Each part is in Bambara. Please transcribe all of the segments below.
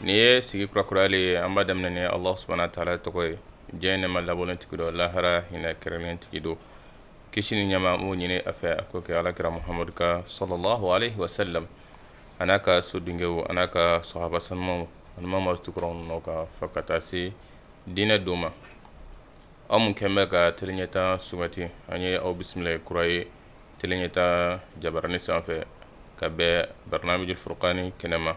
Nin ye sigi kura kura le ye an b'a daminɛ ni Alahu subahana wataala tɔgɔ ye. Diɲɛ nɛma labɔlen tigi don lahara hinɛ kɛrɛnnen tigi don. Kisi ni nɛma an b'o ɲini a fɛ a k'o kɛ Ala kira Mahamadu kan salalahu aleyihi wasalamu a n'a ka sodenkɛw a n'a ka sahaba sanumanw ani maa maa tugura u nɔ kan fo ka taa se diinɛ don ma. Aw mun kɛlen bɛ ka tele Ɲɛtaa sugandi an ye aw bisimila kura ye tele Ɲɛtaa jabaranin sanfɛ ka bɛn barnamijil furukani kɛnɛ ma.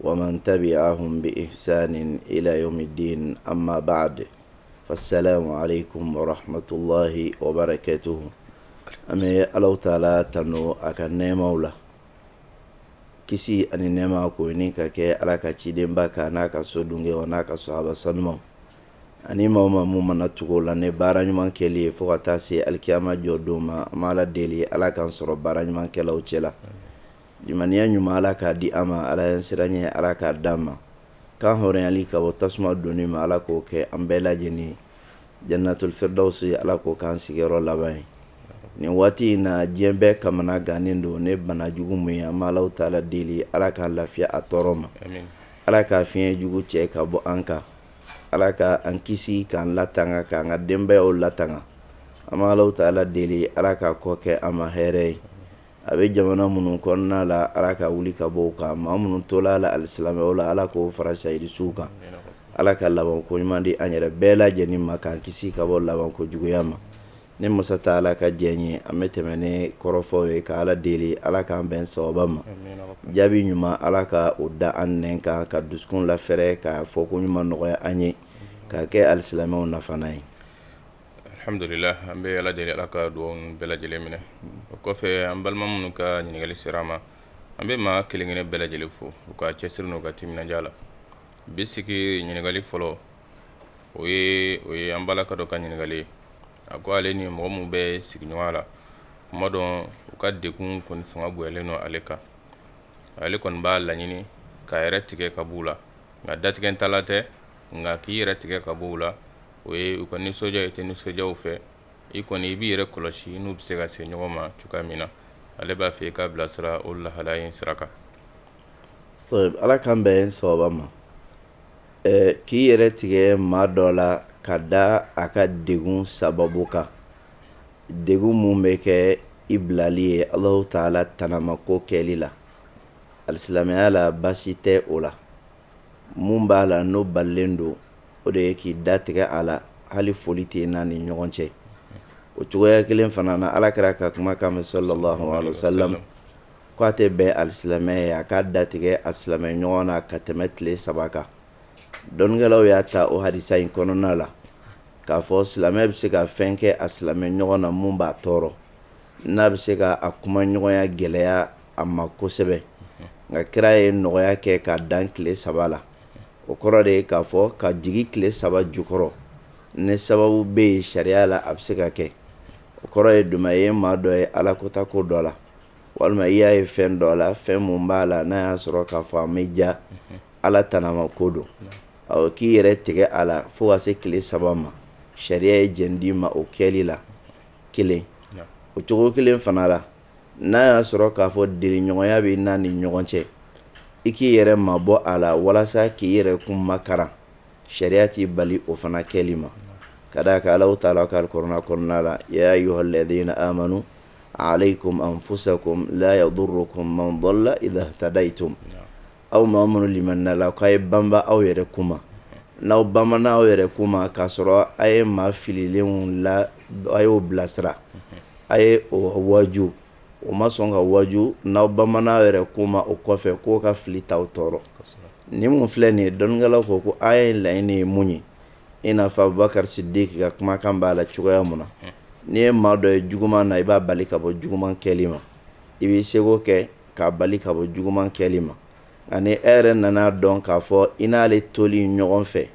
wa man tabiahum bi ihisanin ila yawmi dini ama baadu fa salamu aleykum warahamatulahi wabarakatuhu an bɛ ala taala tanu a ka nɛmaw la kisi ani nɛma k'o ɲini ka kɛ ala ka cidenba kan n'a ka sodenkɛw a n'a ka sahaba sanumanw ani maa maa mun mana tugu u la ni baara ɲuman kɛ ye fo ka taa se alikiyama jɔ don ma an b'ala deli ala k'an sɔrɔ baara ɲumankɛlaw cɛ la Limaniya ɲuman ala k'a di an ma ala ɲɛsiranɲɛ ala k'a di an ma k'an hɔrɔnyali ka bɔ tasuma donni ma ala k'o kɛ an bɛɛ lajɛlen ye janatul firidawsi ala k'o k'an sigiyɔrɔ laban ye nin waati in na diɲɛ bɛɛ kamanagannen don ni bana jugu min ye an b'alahu taala deli ala k'an lafiya a tɔɔrɔ ma ala k'a fiɲɛ jugu cɛ ka bɔ an kan ala ka an kisi k'an latanga k'an ka denbayaw latanga an b'alahu taala deli ala k'a kɔ kɛ an ma hɛrɛɛ ye a bɛ jamana minnu kɔnɔna la ala k'a wuli ka bɔ u kan maa minnu tola a la alisilamɛw la ala k'o fara sahidi suw kan ala ka laban ko ɲuman di an yɛrɛ bɛɛ lajɛlen ma k'an kisi ka bɔ laban ko juguya ma ni masa taala ka diɲɛ ye an bɛ tɛmɛ ni kɔrɔfɔw ye ka ala deli ala k'an bɛn sawaba ma jaabi ɲuman ala ka o da an nɛn kan k'an dusukun lafɛrɛ ka fɔko ɲuman nɔgɔya an ye k'a kɛ alisilamɛw nafalan ye Alhamdulila an bɛ Ala deli Ala ka dugawu bɛɛ lajɛlen minɛ o kɔfɛ an balima minnu ka ɲininkali sera an ma an bɛ maa kelen kelen bɛɛ lajɛlen fo u ka cɛsiri n'u ka timinandiya la bi sigi ɲininkali fɔlɔ o ye an balimakɛ dɔ ka ɲininkali ye a ko ale ni mɔgɔ minnu bɛ sigiɲɔgɔnya la tuma dɔ u ka degun kɔni fanga bonyalen don ale kan ale kɔni b'a laɲini k'a yɛrɛ tigɛ ka b'u la nka datigɛ ta la tɛ nka k'i yɛrɛ tigɛ ka b'u la o ye u ka nisɔndiya i tɛ nisɔndiya u fɛ i kɔni i b'i yɛrɛ kɔlɔsi n'u bɛ se ka se ɲɔgɔn ma cogoya min na ale b'a fɛ i k'a bilasira o lahala in sira kan tayibu ala k'an bɛn sawaba ma k'i yɛrɛ tigɛ maa dɔ la ka da a ka degun sababu kan degun min bɛ kɛ i bilali ye alahu taala tanamako kɛli la alisilamɛya la baasi tɛ o la mun b'a la n'o balilen don o de ye k'i datigɛ a la hali foli t'i n'a ni ɲɔgɔn cɛ o cogoya kelen fana na Ala kira ka kumakan mɛn sallallahu alayhi wa salam k'a tɛ bɛn alisilamɛ ye a k'a datigɛ a silamɛɲɔgɔn na ka tɛmɛ tile saba kan dɔnnikɛlaw y'a ta o hadisa in kɔnɔna la k'a fɔ silamɛ bɛ se ka fɛn kɛ a silamɛɲɔgɔn na mun b'a tɔɔrɔ n'a bɛ se ka a kumaɲɔgɔnya gɛlɛya a ma kosɛbɛ nka kira ye nɔgɔya kɛ ka dan tile saba la o kɔrɔ de ye k'a fɔ ka jigi tile saba jukɔrɔ ni sababu bɛ yen sariya la a bɛ se ka kɛ o kɔrɔ ye jumɛn ye maa dɔ ye ala kota ko dɔ la walima i y'a ye fɛn dɔ la fɛn mun b'a la n'a y'a sɔrɔ k'a fɔ an bɛ ja ala tanama ko don k'i yɛrɛ tigɛ a la fo ka se tile saba ma sariya ye jo d'i ma o kɛli la kelen o cogo kelen fana la n'a y'a sɔrɔ k'a fɔ deliɲɔgɔnya b'i n'a ni ɲɔgɔn cɛ i k'i yɛrɛ mabɔ a la walasa k'i yɛrɛ kun makaran sariya t'i bali o fana kɛli ma ka d'a kan Alahu taala ko alikuranɛ kɔnɔna la ya ayuhalɛdina amanu aleyikumu anfusakumu laa yadurukumu man dɔla idahitadayitum Aw maa minnu limaniyala k'a ye banba aw yɛrɛ kun ma n'aw banbana aw yɛrɛ kun ma k'a sɔrɔ a ye maa fililenw la a y'o bilasira a y'o waju o ma sɔn ka waju n'aw banbana aw yɛrɛ kun ma o kɔfɛ k'o ka fili t'aw tɔɔrɔ nin mun filɛ nin ye dɔnnikɛlaw ko aya in laɲini ye mun ye i n'a fɔ Abubakari Sidiki ka kumakan b'a la cogoya min na n'i ye maa dɔ ye juguman na i b'a bali ka bɔ juguman kɛli ma i b'i seko kɛ k'a bali ka bɔ juguman kɛli ma nka ni e yɛrɛ nana dɔn k'a fɔ i n'ale toli ɲɔgɔn fɛ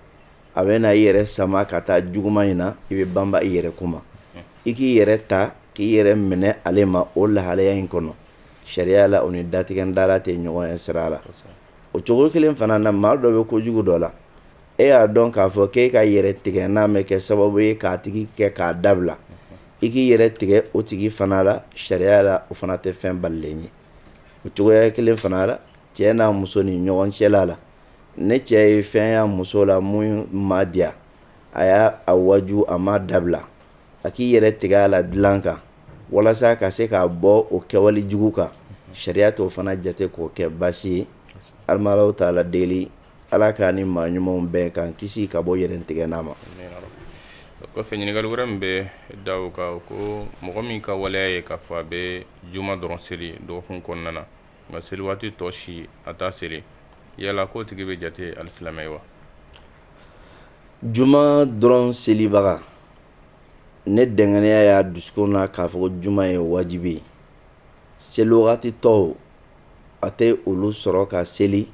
a bɛ na i yɛrɛ sama ka taa juguman in na i bɛ banba i yɛrɛ kun ma i k'i yɛrɛ ta k'i yɛrɛ minɛ ale ma o lahalaya in kɔnɔ sariya la o ni datigɛ dala tɛ ɲɔgɔn ye sira la o cogo kelen fana na maa dɔ bɛ ko jugu dɔ la e y'a dɔn k'a fɔ k'e ka yɛrɛ tigɛ n'a bɛ kɛ sababu ye k'a tigi kɛ k'a dabila i k'i yɛrɛ tigɛ o tigi fana la sariya la o fana tɛ fɛn balilen ye o cogoya kelen fana la cɛ n'a muso ni ɲɔgɔn cɛla la ni cɛ ye fɛn y'a muso la min ma diya a y'a waju a m'a dabila a k'i yɛrɛ tigɛ a la dilan kan walasa ka se k'a bɔ o kɛwale jugu kan sariya t'o fana jate k'o kɛ baasi ye an bɛ Alahu taala deli Ala k'an ni maa ɲumanw bɛɛ k'an kisi ka bɔ yɛrɛ tigɛ n'a ma kɔfɛ ɲininkali wɛrɛ min bɛ d'o kan ko mɔgɔ min ka waleya ye k'a fɔ a bɛ juma dɔrɔn seli dɔgɔkun kɔnɔna na nka seli waati tɔ si a t'a seli yala k'o tigi bɛ jate alisilamɛ ye wa juma dɔrɔn selibaga ni dɛngɛnɛya y'a dusukun na k'a fɔ juma ye wajibi ye seli waati tɔw a tɛ olu sɔrɔ ka seli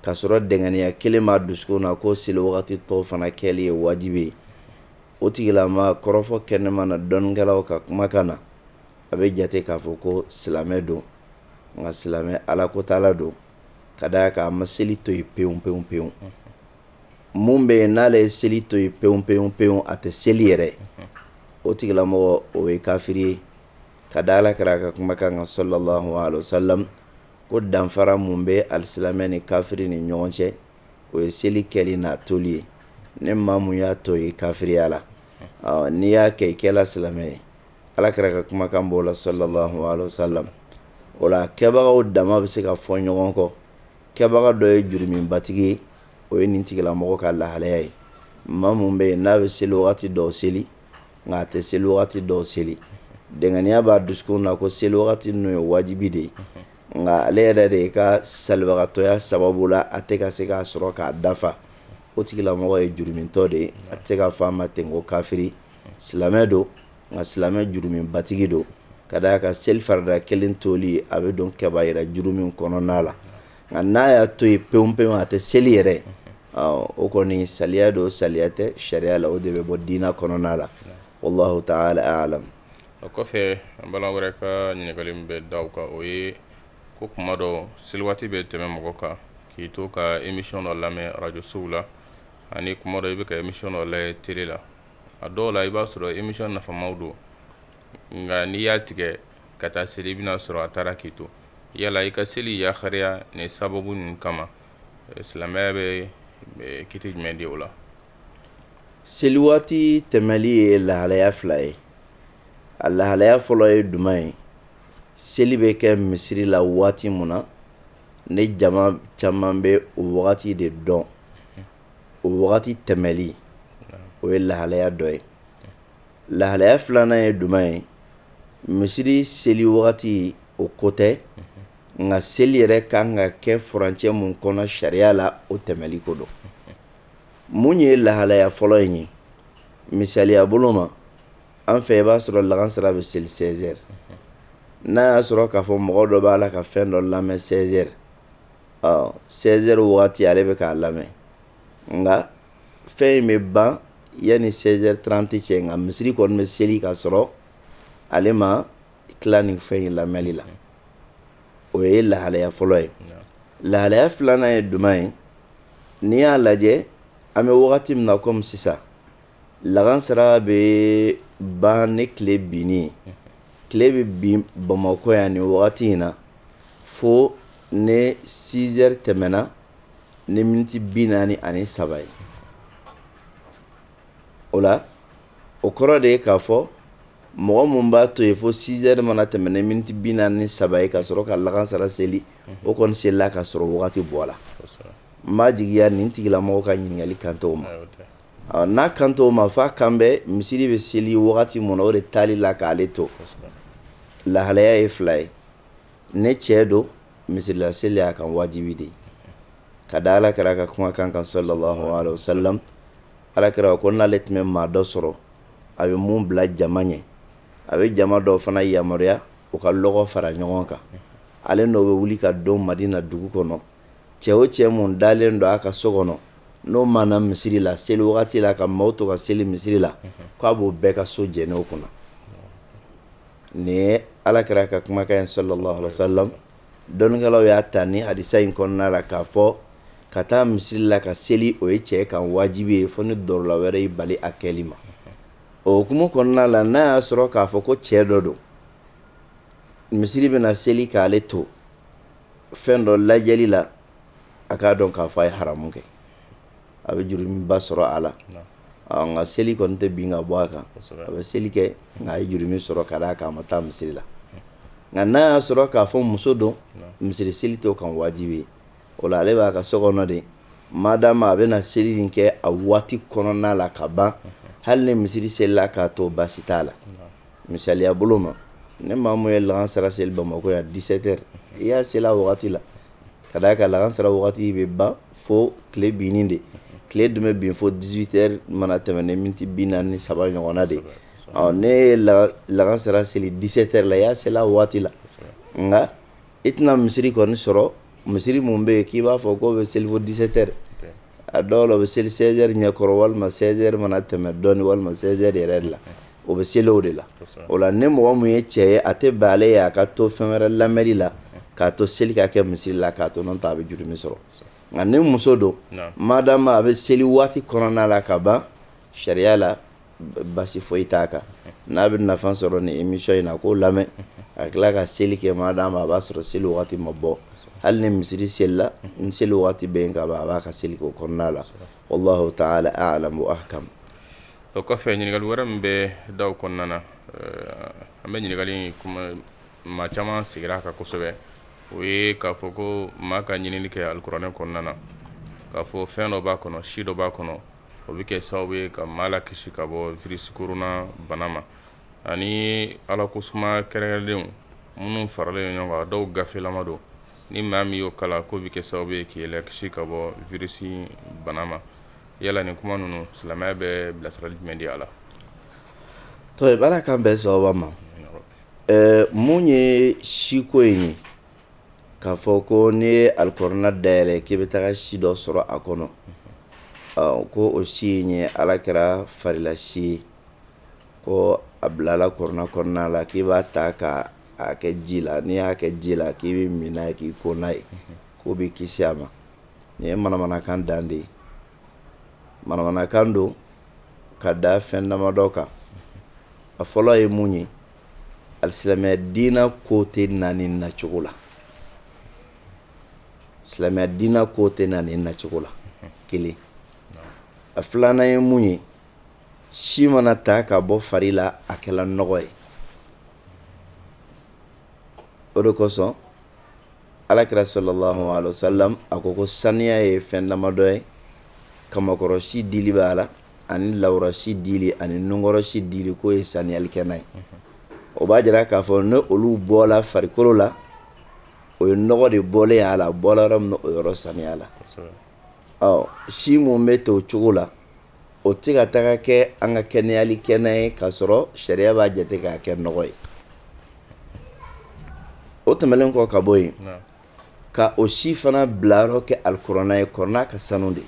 ka sɔrɔ dɛngɛniya kelen b'a dusukun na ko seli wagati tɔw fana kɛli ye wajibi ye o tigilama kɔrɔfɔ kɛnɛma na dɔnnikɛlaw ka kumakan na a bɛ jate k'a fɔ ko silamɛ don nka silamɛ ala ko t'a la don ka d'a kan a ma seli to yen pewu pewu pewu mun bɛ yen n'ale ye seli to yen pewu pewu pewu a tɛ seli yɛrɛ o tigilamɔgɔ o ye kafiri ye ka da ala kira ka kumakan kan sallallahu alaihi wasallam ko danfara mun bɛ alisilamɛ ni kafiri ni ɲɔgɔn cɛ o ye seli kɛli n'a toli ye ne maa mun y'a to ye kafiriya la n'i y'a kɛ i kɛla silamɛ ye ala kira ka kumakan b'o la sallallahu alaihi wasallam o la kɛbagaw dama bɛ se ka fɔ ɲɔgɔn kɔ kɛbaga dɔ ye jurumibatigi ye o ye nin tigilamɔgɔ ka lahalaya ye maa mun bɛ yen n'a bɛ seli waati dɔw seli nka a tɛ seli wagati dɔw seli dɛngɛniya b'a dusukun na ko seli wagati ninnu ye wajibi de ye nka ale yɛrɛ de i ka salibagatɔya sababu la a tɛ ka se k'a sɔrɔ k'a dafa o tigilamɔgɔ ye jurumitɔ de ye a tɛ se ka f'a ma ten ko kafiri silamɛ don nka silamɛ jurumibatigi don ka d'a kan seli farida kelen toli a bɛ don kɛbayira jurumi kɔnɔna la Nka n'a y'a to yen pewu pewu a tɛ seli yɛrɛ o kɔni saliya don saliya tɛ sariya la o de bɛ bɔ diinɛ kɔnɔna la wallahu ta'ala a'lam o kɔfɛ an balima wɛrɛ ka ɲininkali bɛ da o kan o ye ko kuma dɔ seli waati bɛ tɛmɛ mɔgɔ kan k'i to ka émission dɔ lamɛn arajosow la ani kuma dɔ i bɛ ka émission dɔ lajɛ tele la a dɔw la i b'a sɔrɔ émission nafamaw don nka n'i y'a tigɛ ka taa seli i bɛna sɔrɔ a taara k'i to yala i ka seli yakariya ni sababu ninnu kama silamɛya bɛ kiti jumɛn di o la seli waati tɛmɛli ye lahalaya fila ye a lahalaya fɔlɔ ye duman ye seli bɛ kɛ misiri la waati min na ne jama caman bɛ o wagati de dɔn o wagati tɛmɛli o ye lahalaya dɔ ye lahalaya filanan ye duman ye misiri seli wagati o ko tɛ nka seli yɛrɛ ka kan ka kɛ furancɛ mun kɔnɔ sariya la o tɛmɛli ko don mun ye lahalaya fɔlɔ in ye misaliya bolo ma an fɛ i b'a sɔrɔ lagansara bɛ seli seize heures n'a y'a sɔrɔ k'a fɔ mɔgɔ dɔ b'a la ka fɛn dɔ lamɛn seize heures seize heures wagati ale bɛ k'a lamɛn nka fɛn in bɛ ban yanni 16 heures 30 cɛ nka misiri kɔni bɛ seli ka sɔrɔ ale ma tila nin fɛn in lamɛnni la o ye lahalaya fɔlɔ ye lahalaya filanan ye duman ye n'i y'a lajɛ an bɛ wagati min na komi sisan lagansara bɛ ban ni tile binni ye tile bɛ bin bamakɔ yan nin wagati in na fo ni 6 heures tɛmɛna ni miniti bi naani ani saba ye o la o kɔrɔ de ye k'a fɔ mɔgɔ mun b'a to yen fo sizɛri mana tɛmɛ ni miniti bi naani saba ye ka sɔrɔ ka lagansara seli o kɔni selila ka sɔrɔ wagati bɔla n b'a jigiya nin tigilamɔgɔ ka ɲininkali kan t'o ma n'a kan t'o ma f'a kan bɛ misiri bɛ seli wagati mun na o de taali la k'ale to lahalaya ye fila ye ni cɛ don misiri la seli y'a kan wajibi de ye ka da ala kira ka kumakan kan sallallahu alaihi wasallam ala kira ko n'ale tun bɛ maa dɔ sɔrɔ a bɛ mun bila jama ɲɛ a bɛ jama dɔw fana yamaruya u ka lɔgɔ fara ɲɔgɔn kan ale n'o bɛ wuli ka don madina dugu kɔnɔ cɛ o cɛ mun dalen don a ka so kɔnɔ n'o ma na misiri la seli wagati la ka maaw to ka seli misiri la k'a b'o bɛɛ ka so jeni o kun na nin ye ala kira ka kumakan ye sallallahu alaihi wasallam dɔnnikɛlaw y'a ta ni hadisa in kɔnɔna la k'a fɔ ka taa misiri la ka seli o ye cɛ kan wajibi ye fo ni dɔrɔla wɛrɛ y'i bali a kɛli ma o hukumu kɔnɔna la n'a y'a sɔrɔ k'a fɔ ko cɛ dɔ don misiri bɛna seli k'ale to fɛn dɔ lajɛli la a k'a dɔn k'a fɔ a ye haramu kɛ a bɛ jurumiba sɔrɔ a la nka seli kɔni tɛ bin ka bɔ a kan a bɛ seli kɛ nka a ye jurumi sɔrɔ ka d'a kan a ma taa misiri la nka n'a y'a sɔrɔ k'a fɔ muso don misiri seli t'o kan wajibi ye o la ale b'a ka so kɔnɔ de madama a bɛna seli nin kɛ a waati kɔnɔna la ka ban hali ni misiri selila k'a to baasi t'a la misaliya bolo ma ni maa mun ye lagansara seli bamakɔ yan 17 heures i y'a seli a waati la Ka d'a kan lagansara waati bɛ ban fo tile binni de tile dun bɛ bin fo 18 heures mana tɛmɛ ni miniti bi naani saba ɲɔgɔnna de ɔ n'i ye lagansara seli 17 heures la i y'a seli a waati la nka i tɛna misiri kɔni sɔrɔ misiri mun bɛ yen k'i b'a fɔ k'o bɛ seli fo 17 heures a dɔw la o bɛ seli 16 heures ɲɛkɔrɔ walima 16 heures mana tɛmɛ dɔɔni walima 16 heures yɛrɛ de la o bɛ seli o de la o la ni mɔgɔ mun ye cɛ ye a tɛ bɛn ale ye a ka to fɛn wɛrɛ lamɛnni la k'a to seli ka kɛ misiri la k'a to n'o tɛ a bɛ jurumi sɔrɔ nka ni muso don madama a bɛ seli waati kɔnɔna la ka ban sariya la basi foyi t'a kan n'a bɛ nafa sɔrɔ ni emisiyɔn in na k'o lamɛn a tila ka seli kɛ madama a b'a sɔrɔ seli waati ma bɔ hali ni misiri selila ni seli waati bɛ yen ka ban a b'a ka seli k'o kɔnɔna la wallahu ta'ala a'lam wa ahkam o kɔfɛ ɲininkali wɛrɛ min bɛ da kɔnɔna na an bɛ ɲininkali maa caman sigira a kan kosɛbɛ o ye k'a fɔ ko maa ka ɲinini kɛ alikuranɛ kɔnɔna na k'a fɔ fɛn dɔ b'a kɔnɔ si dɔ b'a kɔnɔ o bɛ kɛ sababu ye ka maa lakisi ka bɔ virisi korona bana ma ani ala ko suma kɛrɛnkɛrɛnlenw minnu faralen ɲɔgɔn kan dɔw gafelama don ni maa min y'o kalan k'o bɛ kɛ sababu ye k'i lakisi ka bɔ virisi bana ma yala nin kuma ninnu silamɛya bɛ bilasirali jumɛn di a la to baara kan bɛn sababa ma min ye si ko in ye k'a fɔ ko n'i ye alikuranɛ dayɛlɛ k'i bɛ taga si dɔ sɔrɔ a kɔnɔ ko o si in ye alakira farila si ye ko a bilala alikuranɛ kɔnɔna la k'i b'a ta ka a kɛ ji la n'i y'a kɛ ji la k'i bɛ min n'a ye k'i ko n'a ye k'o b'i kisi a ma nin ye manamanakan dan de ye manamanakan don ka da fɛn damadɔ kan a fɔlɔ ye mun ye alisilamɛya diina ko tɛ na nin nacogo la silamɛya diina ko tɛ na nin nacogo la kelen a filanan ye mun ye si mana ta ka bɔ fari la a kɛla nɔgɔ ye o de kosɔn alakira sallallahu alaihi wasallam a ko ko saniya ye fɛn damadɔ ye kamakɔrɔsi dili b'a la ani lawura si dili ani nunkɔrɔsi dili k'o ye saniyalikɛna ye o b'a jira k'a fɔ ni olu bɔla farikolo la o ye nɔgɔ de bɔlen y'a la bɔla yɔrɔ min na o yɔrɔ saniyala ɔ si minnu bɛ to o cogo la o tɛ ka taga kɛ an ka kɛnɛyalikɛna ye k'a sɔrɔ sariya b'a jate k'a kɛ nɔgɔ ye o tɛmɛnen kɔ ka bɔ yen ka o si fana bilayɔrɔ kɛ alikuranɛ ye kuranɛ ka sanu de ye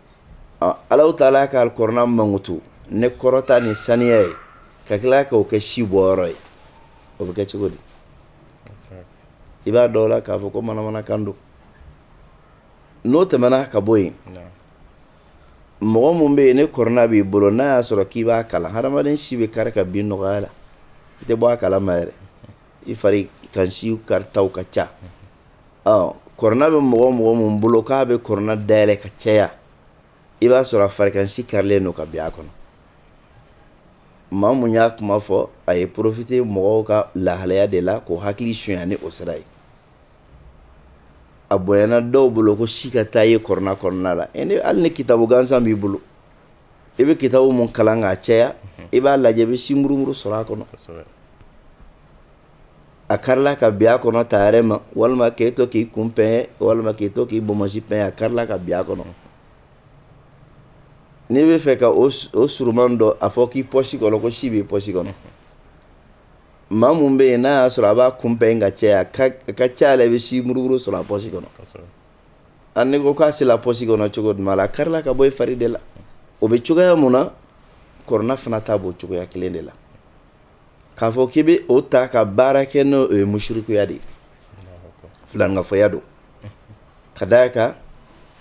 Ala ta'ala ka alikuranɛ mankutu ni kɔrɔta ni saniya ye ka tila k'o kɛ si bɔyɔrɔ ye o bɛ kɛ cogo di i b'a dɔn la k'a fɔ ko manamanakan don n'o tɛmɛna ka bɔ yen mɔgɔ min bɛ yen ni kuranɛ b'i bolo n'a y'a sɔrɔ k'i b'a kalan hadamaden si bɛ kari ka bin nɔgɔya la i tɛ bɔ a kalama yɛrɛ i fari kan si karitaw ka ca ɔ kɔrɔna bɛ mɔgɔ o mɔgɔ mun bolo k'a bɛ kɔrɔna dayɛlɛ ka caya i b'a sɔrɔ a farikansi karilen don ka bin a kɔnɔ maa mun y'a kuma fɔ a ye porofite mɔgɔw ka lahalaya de la k'o hakili sunya ni o sira ye a bonyana dɔw bolo ko si ka taa ye kɔrɔna kɔnɔna la e hali ni kitabu gansan b'i bolo i bɛ kitabu mun kalan k'a caya i b'a lajɛ i bɛ si murumuru sɔrɔ a kɔnɔ a karila ka bin a kɔnɔ ta yɛrɛ ma walima k'e to k'i kun pɛn walima k'i to k'i bonmosi pɛn a karila ka bin a kɔnɔ n'i b'a fɛ ka o surunman dɔn a fɔ k'i pɔsi kɔnɔ ko si b'i pɔsi kɔnɔ maa mun bɛ yen n'a y'a sɔrɔ a b'a kun pɛn ka caya a ka ca la i bɛ si murumuru sɔrɔ a pɔsi kɔnɔ a n'i ko k'a sera pɔsi kɔnɔ cogo jumɛn la a karila ka bɔ i fari de la o bɛ cogoya mun na kɔrɔna fana ta b'o cogoya kelen de la K'a fɔ k'i bɛ o ta ka baara kɛ n'o ye musirikuya de ye filankafoya don ka da a kan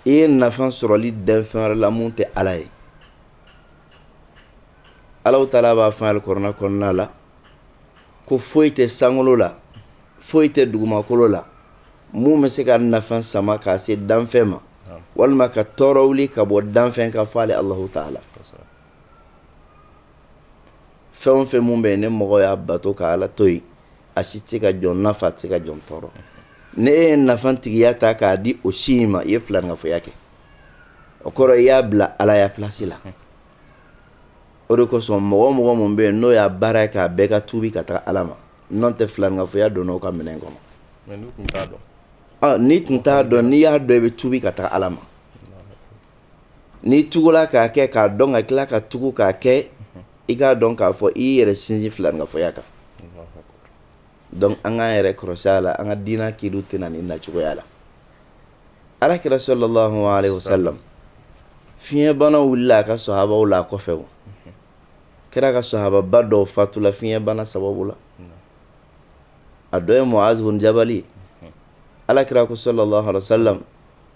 i ye nafa sɔrɔli da fɛn wɛrɛ la mun tɛ ala ye alahu taala b'a fɔ alikɔrɔna kɔnɔna la ko foyi tɛ sankolo la foyi tɛ dugumakolo la mun bɛ se ka nafa sama k'a se danfɛn ma walima ka tɔɔrɔ wuli ka bɔ danfɛn kan fɔ ale alahu taala fɛn o fɛn mun bɛ yen ni mɔgɔ y'a bato ka ala to yen a si tɛ se ka jɔn nafa a tɛ se ka jɔn tɔɔrɔ n'i ye nafa tigiya ta k'a di o si in ma i ye filankafoya kɛ o kɔrɔ i y'a bila alaya plasi la o de kosɔn mɔgɔ o mɔgɔ mun bɛ yen n'o y'a baara ye k'a bɛɛ ka tubi ka taa ala ma n'o tɛ filankafoya donna o ka minɛn kɔnɔ n'i tun t'a dɔn n'i y'a dɔn i bɛ tubi ka taa ala ma N'i tugula k'a kɛ k'a dɔn ka tila ka tugu k'a kɛ i k'a dɔn k'a fɔ i y'i yɛrɛ sinsin filankafoya kan dɔnku an k'an yɛrɛ kɔlɔsi a la an ka diinɛ kili tɛ na nin nacogoya la alakira sallallahu alaihi wasallam fiɲɛbana wulila a ka sahabaw la a kɔfɛ o kɛra k'a sahababa dɔw fatula fiɲɛbana sababu la a dɔ ye muazu bin jabali alakira ko sallallahu alaihi wasallam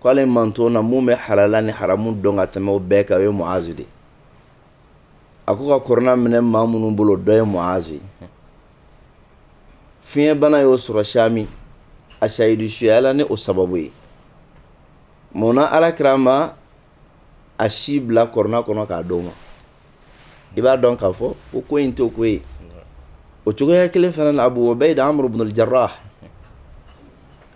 K' ale mantɔn na mun bɛ halala ni haramu dɔn ka tɛmɛ o bɛɛ kan ye muazu de a ko ka kɔrɔna minɛ maa minnu bolo dɔ ye muazu fiɲɛbana y'o sɔrɔ sami a sahidu suyala ni o sababu ye mun na alakira ma a si bila kɔrɔna kɔnɔ k'a d'o ma i b'a dɔn k'a fɔ ko ko in t'o ko ye o cogoya kelen fana na Abu Ubaida Amr ibn al-Jarrah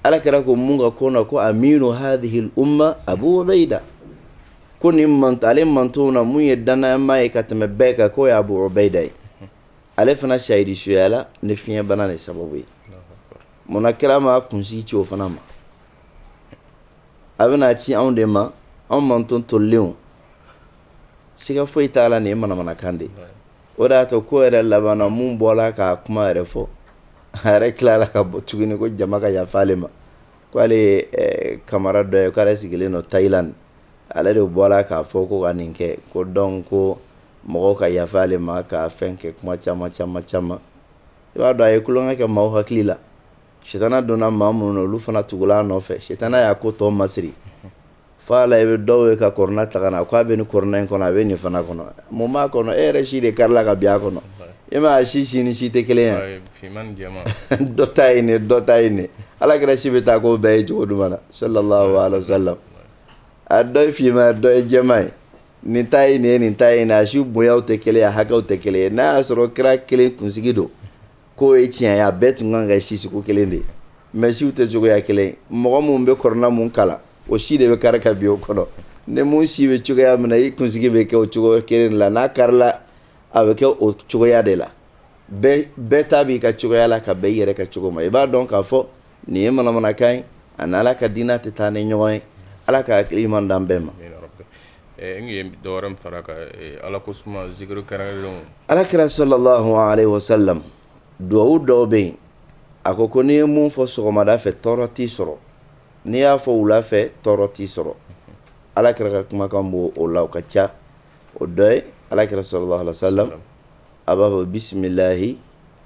ala kira ko mun ka ko na ko aminu hadhihi al-umma Abu Ubaida ko nin manton ale manton na mun ye dannamaa ye ka tɛmɛ bɛɛ kan k'o ye Abu Ubaida ye ale fana sahidi suyala ni fiɲɛbana de sababu ye munna kira ma kunsigi ci o fana ma a bɛna a ci anw de ma anw manton tolilen siga foyi t'a la nin ye manamanakan de ye o de y'a to ko yɛrɛ laban na mun bɔra k'a kuma yɛrɛ fɔ a yɛrɛ tilala ka bɔ tuguni ko jama ka yafa ale ma ko ale ye eh, kamara dɔ ye k'ale sigilen don Thailand ale de bɔra k'a fɔ ko ka nin kɛ ko donc ko mɔgɔw ka yafa ale ma ka fɛn kɛ kuma caman caman caman i b'a dɔn a ye tulonkɛ kɛ maaw hakili la sitana donna maa minnu na olu fana tugula a nɔfɛ sitana y'a ko tɔ masiri Fo a la i bɛ dɔw ye ka kɔrɔna ta ka na k'a bɛ nin kɔrɔna in kɔnɔ a bɛ nin fana kɔnɔ mun b'a kɔnɔ e yɛrɛ si de karila ka bin a kɔnɔ e ma a si ni si tɛ kelen ye dɔ ta ye nin dɔ ta ye nin ala kira si bɛ taa k'o bɛɛ ye cogo jumɛn na sallallahu alaihi wasallam a dɔ finman dɔ ye jɛman ye nin ta ye nin ye nin ta ye nin a si bonya tɛ kelen a hakɛw tɛ kelen n'a y'a sɔrɔ kira kelen kunsigi don K'o ye tiɲɛ ye a bɛɛ tun kan ka kɛ si sugu kelen de ye mais siw tɛ cogoya kelen ye mɔgɔ mun bɛ kɔrɔna mun kalan o si de bɛ kari ka bin o kɔnɔ ni mun si bɛ cogoya min na i kunsigi bɛ kɛ o cogoya kelen de la n'a karila a bɛ kɛ o cogoya de la bɛɛ ta b'i ka cogoya la ka bɛn i yɛrɛ ka cogo ma i b'a dɔn k'a fɔ nin ye manamanakan ye a ni ala ka diinɛ tɛ taa ni ɲɔgɔn ye ala ka hakili ɲuman d'an bɛɛ ma dɔw fara ala ko ala kira sallallahu alaihi wasallam dugawu dɔw bɛ yen a ko ko n'i ye mun fɔ sɔgɔmada fɛ tɔɔrɔ t'i sɔrɔ n'i y'a fɔ wula fɛ tɔɔrɔ t'i sɔrɔ ala kira ka kumakan b'o la o ka ca o dɔ ye ala kira sallallahu alaihi wasallam a b'a fɔ bisimilahi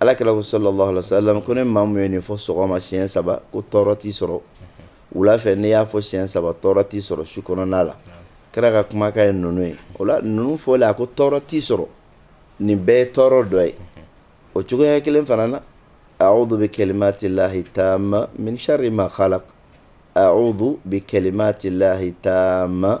Ala kira sallallahu alaihi wasallam ko ni maa mun ye nin fɔ sɔgɔma siɲɛ saba ko tɔɔrɔ t'i sɔrɔ wula fɛ n'i y'a fɔ siɲɛ saba tɔɔrɔ t'i sɔrɔ su kɔnɔna la kira ka kumakan ye ninnu ye o la ninnu fɔlen a ko tɔɔrɔ t'i sɔrɔ nin bɛɛ ye tɔɔrɔ dɔ ye o cogoya kelen fana na a'udhu bi kalimatillahi tamma min sharri ma khalaq a'udhu bi kalimatillahi tamma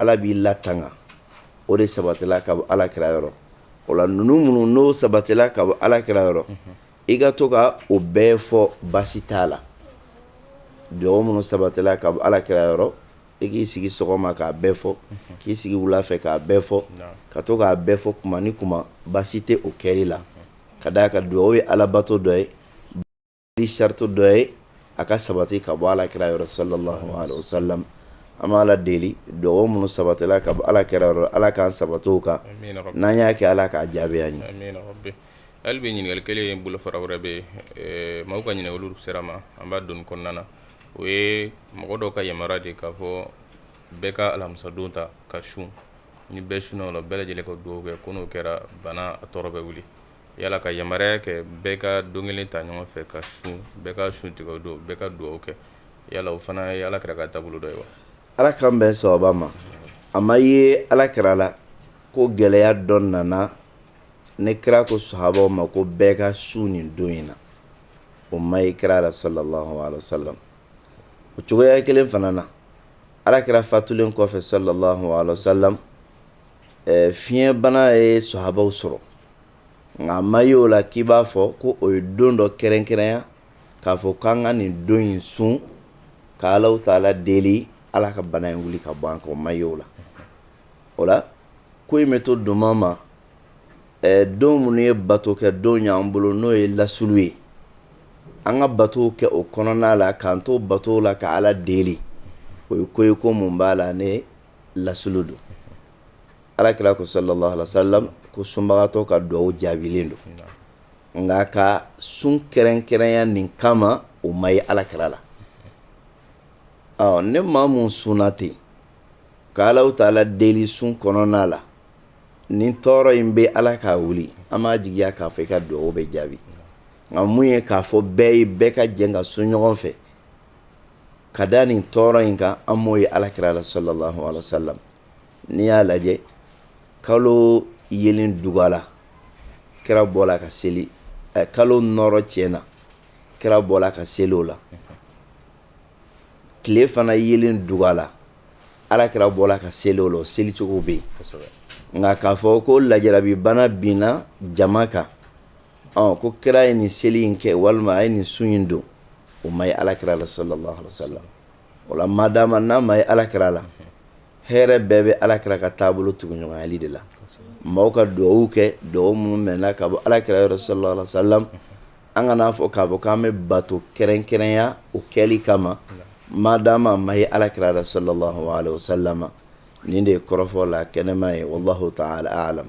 Ala b'i latanga o de sabatila ka bɔ ala kira yɔrɔ o la ninnu minnu n'o sabatila ka bɔ ala kira yɔrɔ i ka to ka o bɛɛ fɔ baasi t'a la dugawu minnu sabatila ka bɔ ala kira yɔrɔ i k'i sigi sɔgɔma k'a bɛɛ fɔ k'i sigi wula fɛ k'a bɛɛ fɔ ka to k'a bɛɛ fɔ kuma ni kuma baasi tɛ o kɛli la ka d'a kan dugawu ye alabato dɔ ye di sarati dɔ ye a ka sabati ka bɔ ala kira yɔrɔ sallallahu alaihi wa sallam an bɛ ala deli dugawu minnu sabatila ka bɔ ala kira yɔrɔ ala k'an sabati u kan n'an y'a kɛ ala k'a jaabi an ye hali bi ɲininkali kelen ye bolofara wɛrɛ bɛ maaw ka ɲininkaliw sera ma an b'a don kɔnɔna na o ye mɔgɔ dɔw ka yamaruya de k'a fɔ bɛɛ ka alamisadon ta ka sun ni bɛɛ sunna o la bɛɛ lajɛlen ka dugawu kɛ ko n'o kɛra bana a tɔɔrɔ bɛ wuli Yala ka yamaruya kɛ bɛɛ ka don kelen ta ɲɔgɔn fɛ ka sun bɛɛ ka sun tigɛ don bɛɛ ka dugawu kɛ yala o fana ye ala kira ka taabolo dɔ ye wa ala k'an bɛn sababa ma a ma ye ala kira la ko gɛlɛya dɔ nana ni kira ko sahabaw ma ko bɛɛ ka sun nin don in na o ma ye kira la sallallahu alaihi wa sallam o cogoya kelen fana na ala kira fatulen kɔfɛ sallallahu alaihi wa sallam fiɲɛbana ye sahabaw sɔrɔ nka a ma ye o la k'i b'a fɔ ko o ye don dɔ kɛrɛnkɛrɛnya k'a fɔ k'an ka nin don in sun ka ala taala deli ala ka bana in wuli ka bɔ an kan o ma ye o la o la ko in bɛ to don ma don minnu ye bato kɛ don y'an bolo n'o ye lasli ye an ka batow kɛ o kɔnɔna la k'an to batow la ka ala deli o ye ko ye ko min b'a la ni lasli don ala kira ko sallallahu alaihi wa sallam ko sunbagatɔ ka dugawu jaabilen don nka ka sun kɛrɛnkɛrɛnya nin kama o ma ye ala kira la ni maa min sunna ten ka ala taala deli sun kɔnɔna la nin tɔɔrɔ in bɛ ala k'a wuli an b'a jigiya k'a fɔ i ka dugawu bɛ jaabi nka min ye k'a fɔ bɛɛ ye bɛɛ ka jɛ ka sun ɲɔgɔn fɛ ka da nin tɔɔrɔ in kan an m'o ye ala kira la sallallahu alaihi wa sallam n'i y'a lajɛ kalo yeelen dugala kira bɔla ka seli eh, kalo nɔrɔ tiɲɛna kira bɔla ka seli o la tile fana yeelen dugala ala kira bɔla ka seli o la o seli cogo bɛ yen nka k'a fɔ ko lajarabibana binna jama kan ɔ ko kira ye nin seli in kɛ walima a ye nin sun in don o ma ye ala kira la sallallahu alaihi wa sallam o la madama n'a ma ye ala kira la hɛrɛ bɛɛ bɛ ala kira ka taabolo tuguɲɔgɔnyali de la maaw ka dugawuw kɛ dugawu minnu mɛnna ka bɔ ala kira yɔrɔ sallallahu alaihi wa sallam an kan'a fɔ k'a fɔ k'an bɛ bato kɛrɛnkɛrɛnya o kɛli kama madama a ma ye ala kira la sallallahu alaihi wa sallam nin de ye kɔrɔfɔ la kɛnɛma ye wallahu taala alam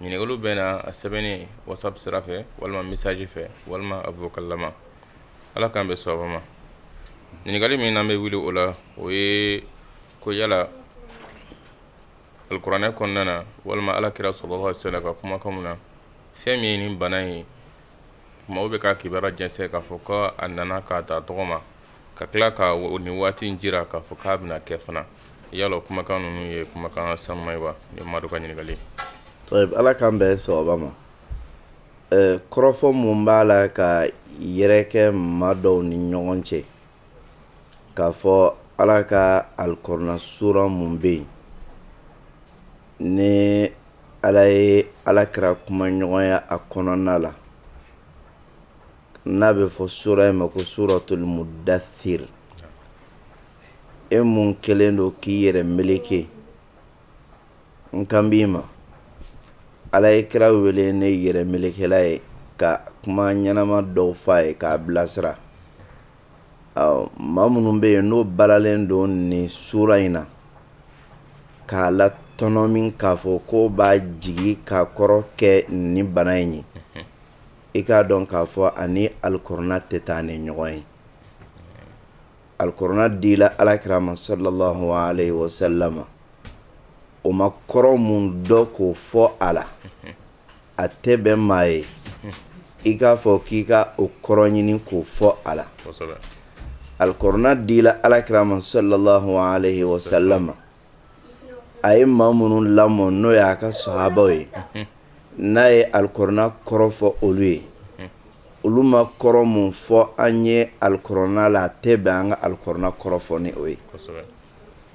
Ɲininkaliw bɛ na a sɛbɛnnen whatsapp sira fɛ walima message fɛ walima a vocal lama ala k'an bɛn sababa ma ɲininkali min an bɛ wuli o la o ye ko yala alikuranɛ kɔnɔna na walima ala kira sallallahu alaihi wa sallam ka kumakanw na fɛn min ye nin bana ye Maaw bɛ ka kibaruya jɛnsɛn k'a fɔ ko a nana k'a ta tɔgɔ ma ka tila ka ni waati in jira k'a fɔ k'a bɛna kɛ fana yala kumakan ninnu ye kumakan sanuma ye wa ni maa dɔ ka ɲininkali ala k'an bɛn sɛbɛ ma kɔrɔfɔ mun b'a la ka yɛrɛkɛ maa dɔw ni ɲɔgɔn cɛ k'a fɔ ala ka alikɔrɔna sura mun bɛ yen ni ala ye ala kira kumaɲɔgɔnya a kɔnɔna la n'a bɛ fɔ sura in ma ko suratul mudasir e mun kɛlen don k'i yɛrɛ meleke n kan b'i ma ala ye kira wele ni yɛrɛ melekela ye ka kuma ɲɛnama dɔw fɔ a ye k'a bilasira maa minnu bɛ yen n'o balalen don ni sura in na k'a latɔnɔmi k'a fɔ k'o b'a jigin k'a kɔrɔ kɛ ni bana in ye i k'a dɔn k'a fɔ ani alikɔrɔna tɛ taa ni ɲɔgɔn ye alikɔrɔna dila alakira ma salalahu alayihi wa salama o ma kɔrɔ mun dɔn k'o fɔ a la a tɛ bɛn maa ye i k'a fɔ k'i ka o kɔrɔ ɲini k'o fɔ a la alikɔrɔna dila alakira ma salala wa salama a ye maa minnu lamɔ n'o y'a ka sahabaw ye n'a ye alikɔrɔna kɔrɔ fɔ olu ye olu ma kɔrɔ min fɔ an ye alikɔrɔna la a tɛ bɛn an ka alikɔrɔna kɔrɔ fɔ ni o ye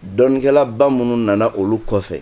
dɔnnikɛlaba minnu nana olu kɔfɛ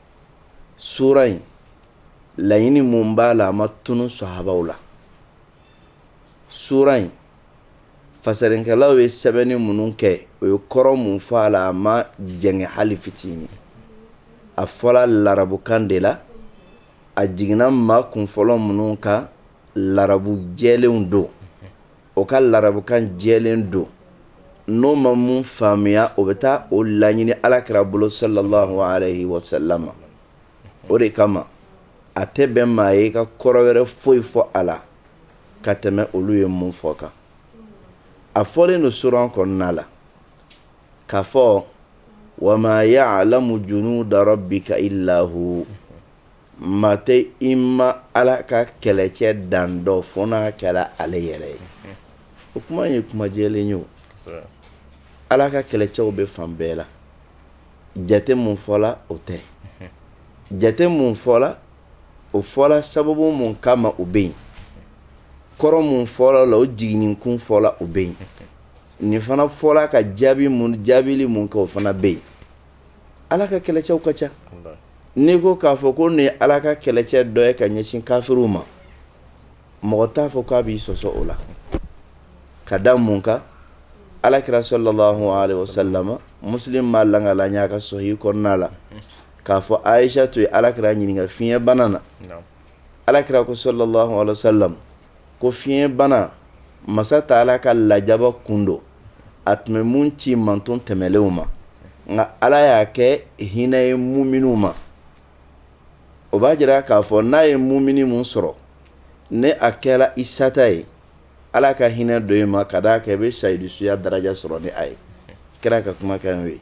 sura in laɲini mun b'a la a ma tunu sahabaw la sura in fasarinkɛlaw ye sɛbɛnni minnu kɛ o ye kɔrɔ mun fɔ a la a ma jɛngɛ hali fitinin a fɔla larabukan de la a jiginna maa kunfɔlɔ minnu kan larabu jɛlenw don o ka larabukan jɛlen don n'o ma mun faamuya o bɛ taa o laɲini alakira bolo salalahu alayihi wa salama o de kama a tɛ bɛn maa ye i ka kɔrɔ wɛrɛ foyi fɔ a la ka tɛmɛ olu ye mun fɔ kan a fɔlen don sura kɔnɔna la k'a fɔ wa ma yaalamu junuda rabika ila hu Maa tɛ i ma ala ka kɛlɛcɛ dan dɔn fo n'a kɛra ale yɛrɛ ye o kuma ye kumajɛlen ye ala ka kɛlɛcɛw bɛ fan bɛɛ la jate min fɔla o tɛ jate min fɔla o fɔra sababu min kama o bɛ yen kɔrɔ min fɔla a la o jiginni kun fɔla o bɛ yen nin fana fɔra ka jaabi jaabili min kɛ o fana bɛ yen Ala ka kɛlɛcɛw ka ca n'i ko k'a fɔ ko nin ye ala ka kɛlɛcɛ dɔ ye ka ɲɛsin kafiriw ma mɔgɔ t'a fɔ k'a b'i sɔsɔ o la ka da mun kan ala kira sallallahu alaihi wasallam musilimu b'a lakali a ka sahihi kɔnɔna la k'a fɔ ayisatu ye ala kira ɲininka fiɲɛ bana na ala kira ko sallallahu alaihi wasallam ko fiɲɛ bana masa taala ka lajaba kun don a tun bɛ mun ci manton tɛmɛlenw ma nka ala y'a kɛ hinɛ ye muminiw ma o b'a jira k'a fɔ n'a ye mumini min sɔrɔ ni a kɛra i sata ye ala ka hinɛ don i ma ka d'a kan i bɛ sayidu suya daraja sɔrɔ ni a ye kira ka kumakan n'o ye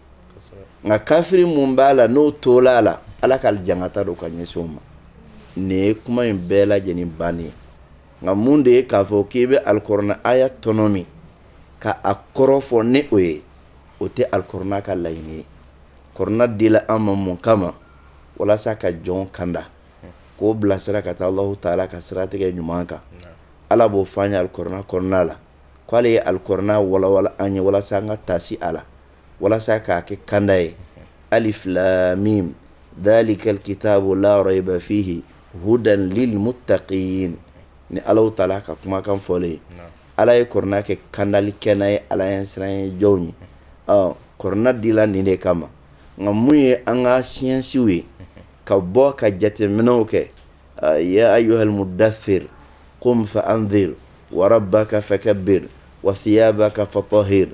nka kafiri min b'a la n'o tora a la ala ka jankata don ka ɲɛsin o ma nin ye kuma in bɛɛ lajɛlen bannen ye nka mun de ye k'a fɔ k'i bɛ alikuranɛ aya tɔnɔmi ka a kɔrɔ fɔ ni o ye o tɛ alikuranɛ ka laɲini ye kuranɛ dila an ma mun kama ma walasa ka jɔn kanda k'o bilasira ka taa alahu taala ka siratigɛ ɲuman kan ala b'o fɔ an ye alikuranɛ kɔnɔna la k' ale ye alikuranɛ walawala an ye walasa an ka taasi a la walasa k'a kɛ kanda ye alif lam mim dhalika alkitabu la rayba fihi hudan lilmuttaqin ni ala taala ka kumakan fɔlen ye Ala ye kuranɛ kɛ kandali kɛnɛ ye ala ɲɛsiranɲɛ jɔnw ye kuranɛ dila nin de kama ma nka mun ye an ka siyansiw ye ka bɔ ka jateminɛw kɛ ya ayyuhal mudaththir qum fa anzir wa rabbaka fakabbir wa thiyabaka fatahhir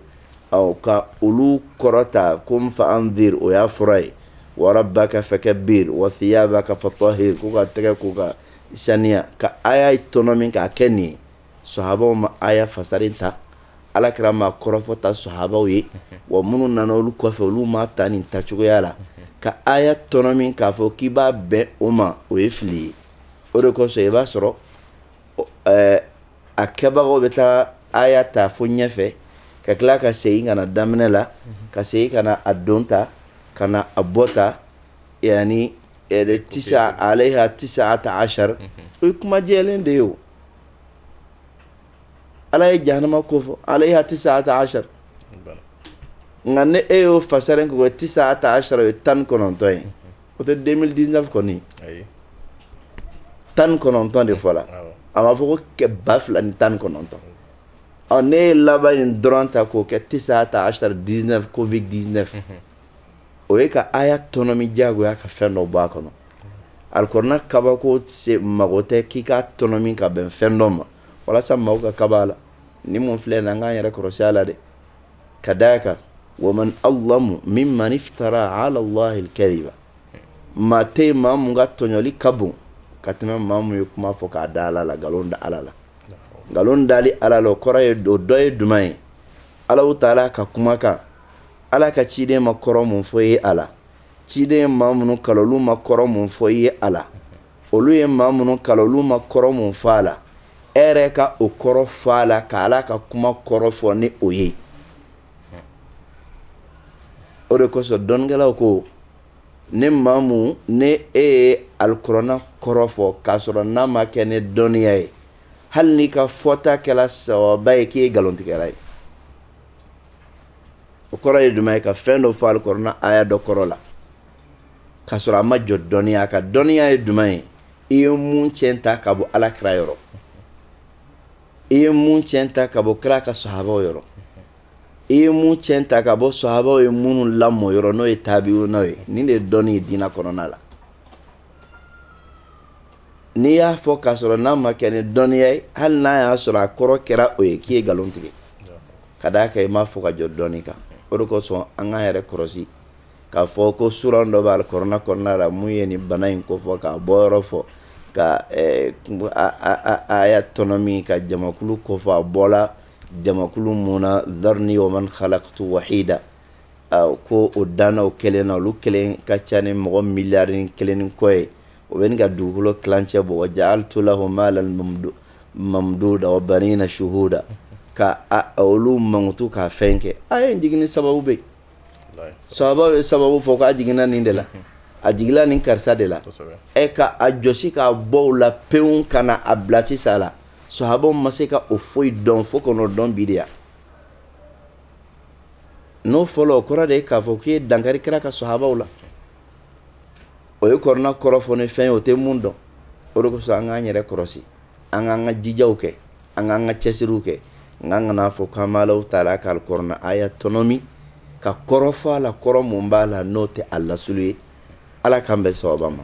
ka olu kɔrɔta qum fa anzir o y'a fɔra ye wa rabbaka fakabbir wa thiyabaka fatahhir ko ka tɛgɛ ko ka saniya ka aya tɔnɔmi k'a kɛ nin ye sahabaw ma aya fasari tan ala kira ma a kɔrɔ fɔ tan sahabaw ye wa minnu nana olu kɔfɛ olu ma a ta nin ta cogoya la ka aya tɔnɔmi k'a fɔ k'i b'a bɛn o ma o ye fili ye o de kosɔn i b'a sɔrɔ a kɛbagaw bɛ taa aya ta fo ɲɛfɛ ka tila ka segin ka na daminɛ la ka segin ka na a dɔn ta ka na a bɔ ta yaani tisa alayha tisata asari o ye kuma jɛlen de ye ala ye jahanama ko fɔ alayha tisata ashar nka ni e y'o fasari ko tisata ashar o ye tan kɔnɔntɔn ye o tɛ 2019 kɔni tan kɔnɔntɔn de fɔra a ma fɔ ko ba fila ni tan kɔnɔntɔn ɔ n'e ye laban in dɔrɔn ta k'o kɛ tisata ashar 19 covid 19 o ye ka aya tɔnɔmi diyagoya ka fɛn dɔ bɔ a kɔnɔ Alikɔrɔna kabako se mago tɛ k'i k'a tɔnɔmi ka bɛn fɛn dɔ ma walasa maaw ka kaba a la ni min filɛ nin an k'an yɛrɛ kɔrɔsi a la dɛ ka da a kan wa man azlamu mimman iftara alallahi kaziba maa tɛ maa min ka tɔɲɔli ka bon ka tɛmɛ maa min ye kuma fɔ k'a da ala la nkalon da ala la nkalon da ala la o kɔrɔ ye o dɔ ye jumɛn ye ala taala ka kumakan ala ka ciden ma kɔrɔ min fɔ i ye a la ciden ye maa minnu kalan olu ma kɔrɔ mun fɔ i ye a la olu ye maa minnu kalan olu ma kɔrɔ mun fɔ a la e yɛrɛ ka o kɔrɔ fɔ a la ka ala ka kuma kɔrɔ fɔ ni o ye o de kosɔn dɔnnikɛlaw ko ni maa mun ni e ye alikɔrɔna kɔrɔ fɔ k'a sɔrɔ n'a ma kɛ ni dɔnniya ye hali n'i ka fɔta kɛla sawaba ye k'i ye nkalontigɛla ye o kɔrɔ ye jumɛn ye ka fɛn dɔ fɔ alikɔrɔna aya dɔ kɔrɔ la k'a sɔrɔ a ma jɔ dɔnniya kan dɔnniya ye jumɛn ye i ye mun tiɲɛ ta ka bɔ ala kira yɔrɔ i ye mun tiɲɛ ta ka bɔ kira ka sahabaw yɔrɔ i ye mun tiɲɛ ta ka bɔ sahabaw ye minnu lamɔ yɔrɔ n'o ye tabi'una ye nin de ye dɔnni ye diinɛ kɔnɔna la N'i y'a fɔ k'a sɔrɔ n'a ma kɛ ni dɔnniya ye hali n'a y'a sɔrɔ a kɔrɔ kɛra o ye k'i ye nkalon tigɛ ka d'a kan i m'a fɔ ka jɔ dɔni kan o de kosɔn an k'an yɛrɛ kɔlɔsi k'a fɔ ko sura dɔ bɛ alikɔrɔna kɔnɔna la mun ye nin bana in kofɔ k'a bɔ yɔrɔ fɔ ka aya tɔnɔmi ka jamakulu kofɔ a bɔla jamakulu mun na zarni wa man kalaktu wahida ko o danna o kelen na olu kelen ka ca ni mɔgɔ miliyari kelen ni kɔ ye o bɛ ɲini ka dugukolo tilancɛ bɔ wa ja'altu lahu malan mamduda wa banina shuhuda ka olu mankutu k'a fɛn kɛ aya jigin sababu bɛ sahabaw ye sababu fɔ k'a jiginna nin de la a jiginla nin karisa de la e ka a jɔsi k'a bɔ o la pewu ka na a bila sisan la sahabaw ma se ka o foyi dɔn fo ka n'o dɔn bi de yan n'o fɔlɔ o kɔrɔ de ye k'a fɔ k'i ye dankari kira ka sahabaw la o ye kɔrɔna kɔrɔ fɔ ni fɛn ye o tɛ mun dɔn o de kosɔn an k'an yɛrɛ kɔlɔsi an k'an ka jijaw kɛ an k'an ka cɛsiriw kɛ nka kan'a fɔ k'an b'alahu taala ka kɔrɔna aya tɔnɔmi ka kɔrɔ fɔ a la kɔrɔ mun b'a la n'o tɛ a lasili ye ala k'an bɛn sawaba ma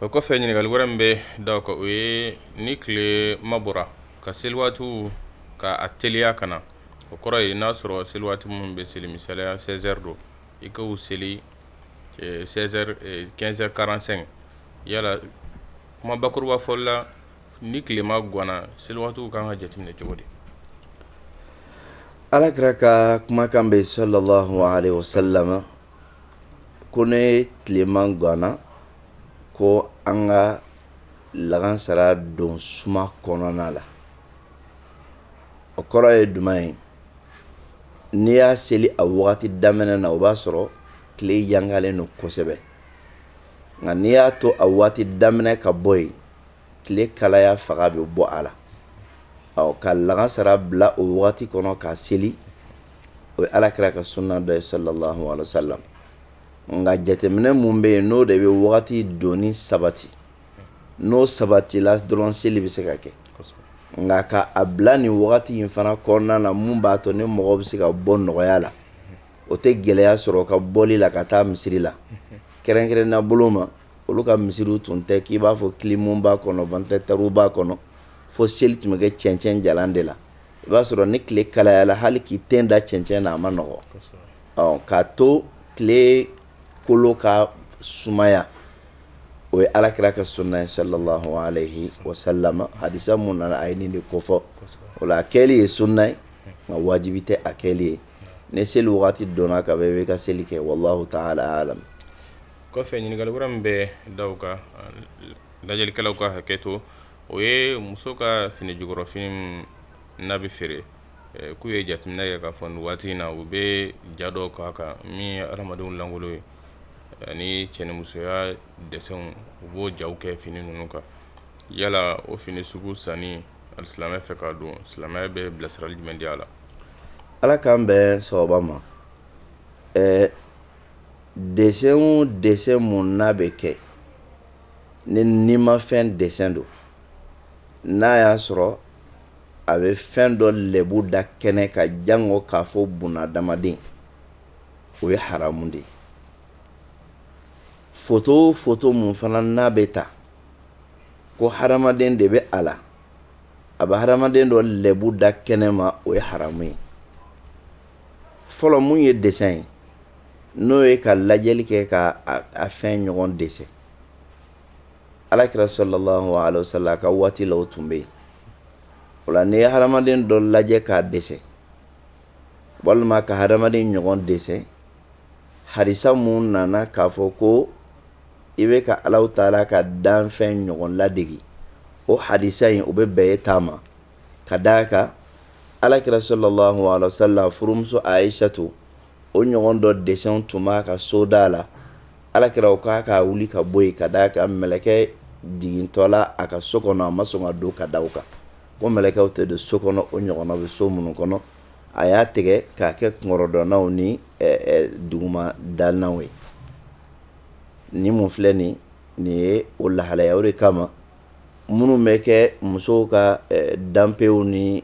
o kɔfɛ ɲininkali wɛrɛ min bɛ da kan o ye ni tilema bɔra ka seli waati ka a teliya ka na o kɔrɔ yen n'a sɔrɔ seli waati minnu bɛ seli misaliya sɛzɛri don i ka seli heures quarante-cinq yala kuma bakuruba fɔli la ni tilema ganna seliwaatiw ka kan ka jateminɛ cogo di alakira ka kumakan bɛ sallallahu alaihi wasallam ko ni tilema ganna ko an ka lagansara don suma kɔnɔna la o kɔrɔ ye jumɛn ye n'i y'a seli a wagati daminɛ na o b'a sɔrɔ tile yangalen don kosɛbɛ nka n'i y'a to a wagati daminɛ ka bɔ yen tile kalaya faga bɛ bɔ a la ɔ ka lagansara bila o wagati kɔnɔ k'a seli o ye alakira ka sunna dɔ ye sallallahu alaihi wasallam nka jateminɛ mun bɛ yen n'o de bɛ wagati donni sabati n'o sabatila dɔrɔn seli bɛ se ka kɛ nka ka a bila nin wagati in fana kɔnɔna na mun b'a to ni mɔgɔ bɛ se ka bɔ nɔgɔya la o tɛ gɛlɛya sɔrɔ ka bɔli la ka taa misiri la kɛrɛnkɛrɛnnenya bolo ma olu ka misiriw tun tɛ k'i b'a fɔ kilimu b'a kɔnɔ ventilateur b'a kɔnɔ fo seli tun bɛ kɛ cɛncɛn jalan de la i b'a sɔrɔ ni tile kalayala hali k'i ten da cɛncɛn na a ma nɔgɔ ɔ k'a to tile kolo ka sumaya o ye alakira ka sunna ye sallallahu alaihi wasallam hadisa mun nana a ye nin de kofɔ o la a kɛli ye sunna ye nka wajibi tɛ a kɛli ye ni seli waati donna ka bɛ ka seli kɛ wallahu taala alam kɔfɛ ɲininkali wɛrɛ min bɛ da o kan lajɛlikɛlaw ka hakɛ to o ye muso ka fini jukɔrɔfini n'a bɛ feere k'u ye jateminɛ kɛ k'a fɔ waati in na u bɛ ja dɔw k'a kan min hadamadenw lankolon ye ani cɛnimusoya dɛsɛnw u b'o jaw kɛ fini ninnu kan yala o fini sugu sanni alisilamɛ fɛ k'a don silamɛya bɛ bilasirali jumɛn di a la ala k'an bɛn sababa ma ɛɛ dɛsɛn o dɛsɛn mun n'a bɛ kɛ ni nimafɛn dɛsɛn don n'a y'a sɔrɔ a bɛ fɛn dɔ lɛbu da kɛnɛ kan jango k'a fɔ bunadamaden o ye haramu de ye foto o foto mun fana n'a bɛ ta ko hadamaden de bɛ a la a bɛ hadamaden dɔ lɛbu da kɛnɛ ma o ye haramu ye fɔlɔ mun ye dɛsɛn ye n'o ye ka lajɛli kɛ ka a fɛn ɲɔgɔn dɛsɛn alakira sallallahu alaihi wasallam ka waati la o tun bɛ yen o la n'i ye hadamaden dɔ lajɛ k'a dɛsɛn walima ka hadamaden ɲɔgɔn dɛsɛn hadisa mun nana k'a fɔ ko i bɛ ka alahu taala ka danfɛn ɲɔgɔn ladege o hadisa in o bɛ bɛn i ta ma ka d'a kan alakira sallallahu alaihi wasallam furumuso ayisatu o ɲɔgɔn dɔ dessin tun b'a ka soda la ala kira o k'a ka wuli ka bɔ yen ka da a kan mɛlɛkɛ jigintɔ la a ka so kɔnɔ a ma sɔn ka don ka da a kan ko mɛlɛkɛw tɛ don so kɔnɔ o ɲɔgɔn bɛ so minnu kɔnɔ a y'a tigɛ k'a kɛ kunkɔrɔdonnaw ni duguma dalenw ye ni mun filɛ nin nin ye o lahalaya o de kama minnu bɛ kɛ musow ka danpew ni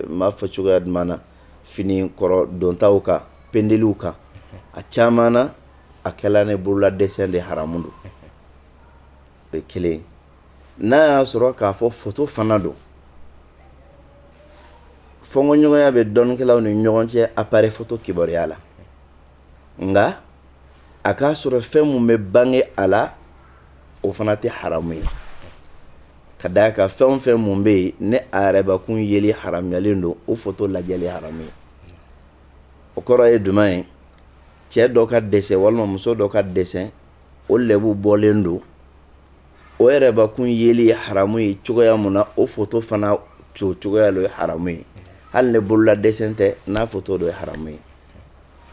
m'a fɔ cogoya jumɛn na fini kɔrɔ dontaw kan pendeliw kan a caman na a kɛla ni bolola dessin de haramu don o ye kelen n'a y'a sɔrɔ k'a fɔ foto fana don fɔnkɔɲɔgɔnya bɛ dɔnnikɛlaw ni ɲɔgɔn cɛ appareil photo kibaruya la nka a k'a sɔrɔ fɛn mun bɛ bange a la o fana tɛ haramu ye ka da a kan fɛn o fɛn mun bɛ yen ni a yɛrɛbakun yeli haramuyalen don o foto lajɛli haramu ye o kɔrɔ ye jumɛn ye cɛ dɔ ka dessin walima muso dɔ ka dessin o lɛbu bɔlen don o yɛrɛbakun yeli ye haramu ye cogoya min na o foto fana cogoya ye haramu ye hali ni bolola dessin tɛ n'a foto don o ye haramu ye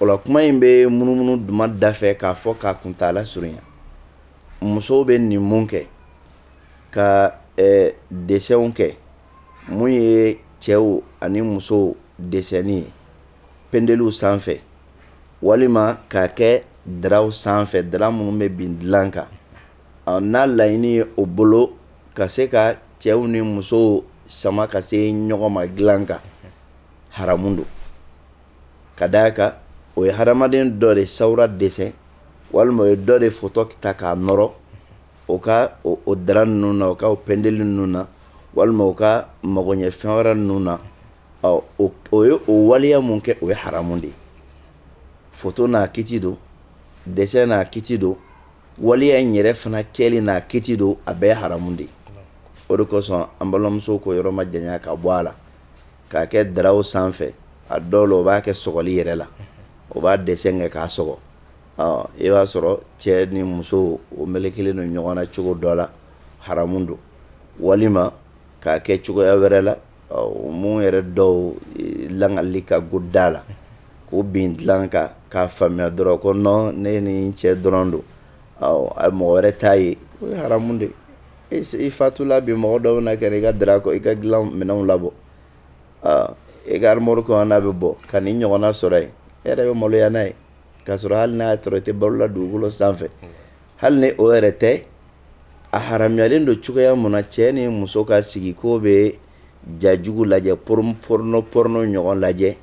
O la kuma in bɛ munumunu duma da fɛ k'a fɔ k'a kuntaala surunya musow bɛ nin mun kɛ ka ɛ dessinw kɛ mun ye cɛw ani musow dessinni ye pendeliw sanfɛ walima k'a kɛ draw sanfɛ dra minnu bɛ bin dilan kan ɔ n'a laɲini ye o bolo ka se ka cɛw ni musow sama ka se ɲɔgɔn ma dilan kan haramu don ka da a kan o ye hadamaden dɔ de sawura dessin walima o ye dɔ de foto ta k'a nɔrɔ o ka o dra ninnu na o ka pendeli ninnu na walima u ka magoɲɛfɛn wɛrɛ ninnu na ɔ o ye o waleya min kɛ o ye haramu de ye foto n'a kiti don dessin n'a kiti don waleya in yɛrɛ fana kɛli n'a kiti don a bɛɛ ye haramu de ye o de kosɔn an balimamusow k'o yɔrɔ majanya ka bɔ a la k'a kɛ draw sanfɛ a dɔw la o b'a kɛ sɔgɔli yɛrɛ la o b'a dessin kɛ k'a sɔgɔ i b'a sɔrɔ cɛ ni muso o melekelen don ɲɔgɔn na cogo dɔ la haramu don walima k'a kɛ cogoya wɛrɛ la mun yɛrɛ dɔw lakali ka go da la k'o bin dilan kan k'a faamuya dɔrɔn ko non ne ni cɛ dɔrɔn don mɔgɔ wɛrɛ t'a ye o ye haramu de i fatula bi mɔgɔ dɔw bɛna kɛ i ka dra kɔ i ka dilan minɛnw labɔ i ka armoire kɔnɔ n'a bɛ bɔ ka nin ɲɔgɔnna sɔrɔ yen e yɛrɛ bɛ maloya n'a ye k'a sɔrɔ hali n'a y'a sɔrɔ i tɛ balo la dugukolo sanfɛ hali ni o yɛrɛ tɛ a haramuyalen don cogoya mun na cɛ ni muso ka sigi k'o bɛ ja jugu lajɛ porno ɲɔgɔn lajɛ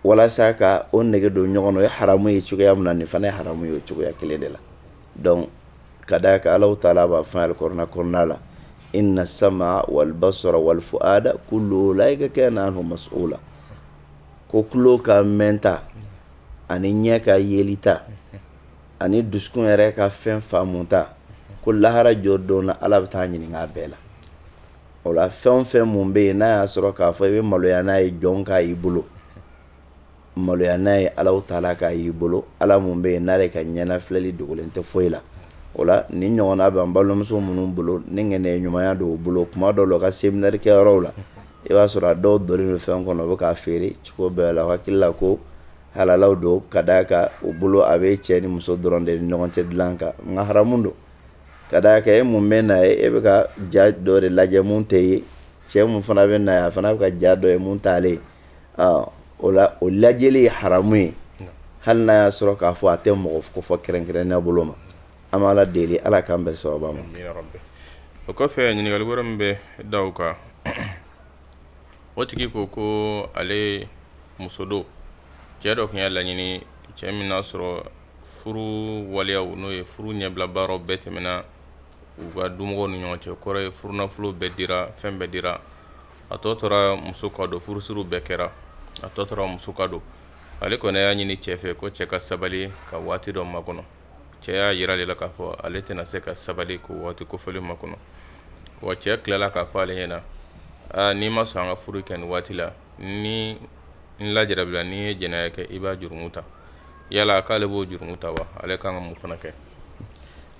walasa ka o nege don ɲɔgɔn na o ye haramu ye cogoya min na nin fana ye haramu ye o cogoya kelen de la donc ka d'a kan alahu taala b'a fɔ alikuranɛ kɔnɔna la inna sama wal basara wal fuada kullu ulaika kana anhu mas'ula ko tulo ka mɛnta ani ɲɛ ka yelita ani dusukun yɛrɛ ka fɛn faamuta ko lahara jɔ don ala bɛ taa ɲininka a bɛɛ la o la fɛn o fɛn mun bɛ yen n'a y'a sɔrɔ k'a fɔ i bɛ maloya n'a ye jɔn k'a y'i bolo maloya n'a ye alahu taala k'a y'i bolo ala mun bɛ yen n'ale ka ɲɛnafilɛli dogolen tɛ foyi la o la nin ɲɔgɔnna b'an balimamuso minnu bolo ni ŋaniya ɲumanya don u bolo kuma dɔw la u ka séminaire kɛyɔrɔw la i b'a sɔrɔ a dɔw donnen bɛ fɛn kɔnɔ o bɛ k'a feere cogo bɛɛ la u hakili la ko halala don ka d'a kan u bolo a bɛ cɛ ni muso dɔrɔn de ni ɲɔgɔn cɛ dilan kan nka haramu don ka d'a kan e mun bɛ na ye e bɛ ka ja dɔ de lajɛ min t'e ye cɛ min fana bɛ na ye a fana bɛ ka ja dɔ ye mun t'ale ye o la o lajɛli ye haramu ye hali n'a y'a sɔrɔ k'a fɔ a tɛ mɔgɔ kofɔ kɛrɛnkɛrɛnnenya bolo ma an bɛ ala deli ala k'an bɛn sababa ma o kɔfɛ ɲininkali wɛrɛ min bɛ d'a kan o tigi ko ko ale muso don cɛ dɔ tun y'a laɲini cɛ min n'a sɔrɔ furu waleyaw n'o ye furu ɲɛbilabaaraw bɛɛ tɛmɛna u ka dumɔgɔw ni ɲɔgɔn cɛ kɔrɔ ye furunafolo bɛɛ dira fɛn bɛɛ dira a tɔ tora muso ka don furusiriw bɛɛ kɛra a tɔ tora muso ka don ale kɔni y'a ɲini cɛ fɛ ko cɛ ka sabali ka waati dɔ makɔnɔ cɛ y'a jira ale la k'a fɔ ale tɛna se ka sabali k'o waati kofɔlen makɔnɔ wa cɛ tilala k'a fɔ ale ɲɛna na aa n'i ma sɔn an ka furu kɛ nin waati la ni n lajarabila n'i ye jɛnɛya kɛ i b'a jurumu ta yala k'ale b'o jurumu ta wa ale kan ka mun fana kɛ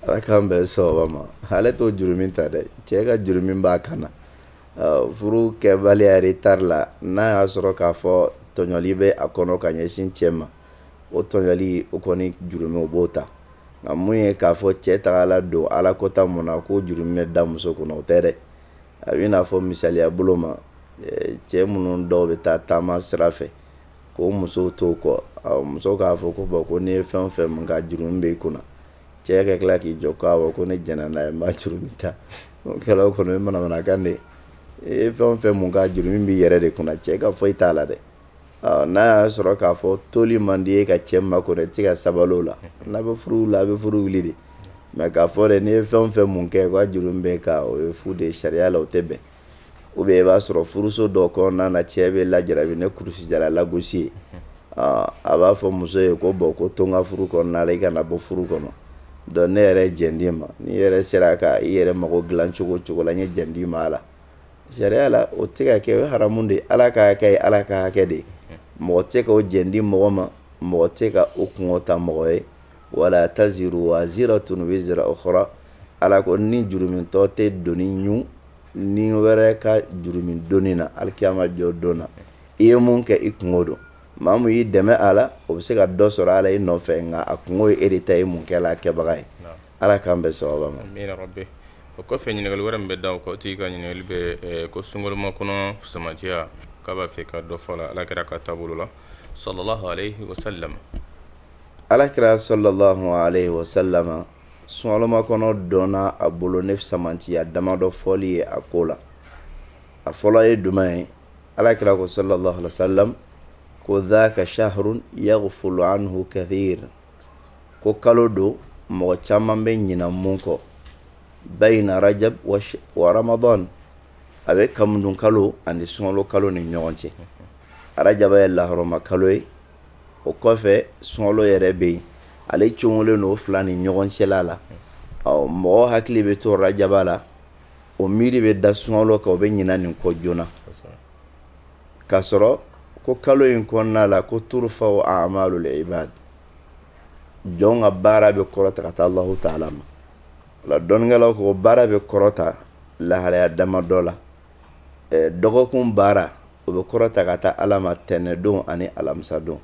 ala k'an bɛn sababa ma ale t'o jurumu ta dɛ cɛ ka juru min b'a kan na Furu kɛbaliya retard la n'a y'a sɔrɔ k'a fɔ tɔɲɔli bɛ a kɔnɔ ka ɲɛsin cɛ ma o tɔɲɔli o kɔni jurumu o b'o ta nka mun ye k'a fɔ cɛ tagala don ala kota mun na k'o jurumu bɛ da muso kunna o tɛ dɛ a b'i n'a fɔ misaliya bolo ma cɛ minnu dɔw bɛ taa taama sira fɛ k'o musow t'o kɔ muso k'a fɔ ko bon ko n'i ye fɛn o fɛn mun k'a jurumu b'i kunna cɛ ka tila k'i jɔ ko ne jɛnna n'a ye n b'a jurumi ta kɛla o kɔni ye manamanakan de ye e ye fɛn fɛn mun kɛ a jurumi b'i yɛrɛ de kunna cɛ ka foyi t'a la dɛ n'a y'a sɔrɔ k'a fɔ toli man di i ye ka cɛ makɔnɔ i tɛ ka sabali o la n'a bɛ furu la a bɛ furu wuli de mɛ k'a fɔ dɛ n'i ye fɛn fɛn mun kɛ k'a jurumi bɛ n kan o ye fu de ye sariya la o tɛ bɛn ou bien i b'a sɔrɔ furuso dɔ kɔnɔna na cɛ bɛ lajarabi ni kurusijala lagosi ye a b'a fɔ muso ye ko bɔn ko to n ka furu kɔnɔna la i kana bɔ furu kɔnɔ donc ne yɛrɛ jɛn d'i ma n'i yɛrɛ sera ka i yɛrɛ mago dilan cogo cogo la n ye jɛn d'i ma a la sariya la o tɛ ka kɛ o ye haramu de ye ala ka hakɛ ye ala ka hakɛ de ye mɔgɔ tɛ ka o jɛn di mɔgɔ ma mɔgɔ tɛ ka o kun ta mɔgɔ ye wala taziru waziratun wizra ukhra ala ko ni jurumitɔ tɛ doni ɲun ni wɛrɛ ka jurumi doni na alikiyama jɔ don na i ye mun kɛ i kunko don maa mun y'i dɛmɛ a la o bɛ se ka dɔ sɔrɔ a la i nɔfɛ nka a kunko ye e de ta ye mun kɛla a kɛbaga ye ala k'an bɛn sawaba ma o kɔfɛ ɲininkali wɛrɛ min bɛ da o kan o tigi ka ɲininkali bɛ ko sunkalomakɔnɔ fisamantiya k'a b'a fɛ ka dɔ fɔ a la alakira ka taabolo la sallallahu alayhi wa sallam alakira sallallahu alayhi wa sallam sunkalomakɔnɔ dɔnna a bolo ni fisamantiya damadɔ fɔli ye a ko la a fɔlɔ ye jumɛn ye alakira ko sallallahu alayhi wa sallam ko dhaka shahrun yaghfulu anhu kathir ko kalo don mɔgɔ caman bɛ ɲina mun kɔ bayna rajab wa ramadan a bɛ kamundun kalo ani sunkalo kalo ni ɲɔgɔn cɛ arajaba ye lahɔrɔma kalo ye o kɔfɛ sunkalo yɛrɛ bɛ yen ale cogolen don fila ni ɲɔgɔn cɛla la ɔ mɔgɔ hakili bɛ to arajaba la o miiri bɛ da sunkalo kan o bɛ ɲina nin kɔ joona k'a sɔrɔ ko kalo in kɔnɔna la ko turfau amalul ibad jɔn ka baara bɛ kɔrɔta ka taa allahu taala ma o la dɔnnikɛlaw ko baara bɛ kɔrɔta lahalaya damadɔ la dɔgɔkun baara o bɛ kɔrɔta ka taa ala ma tɛnɛndon ani alamisadon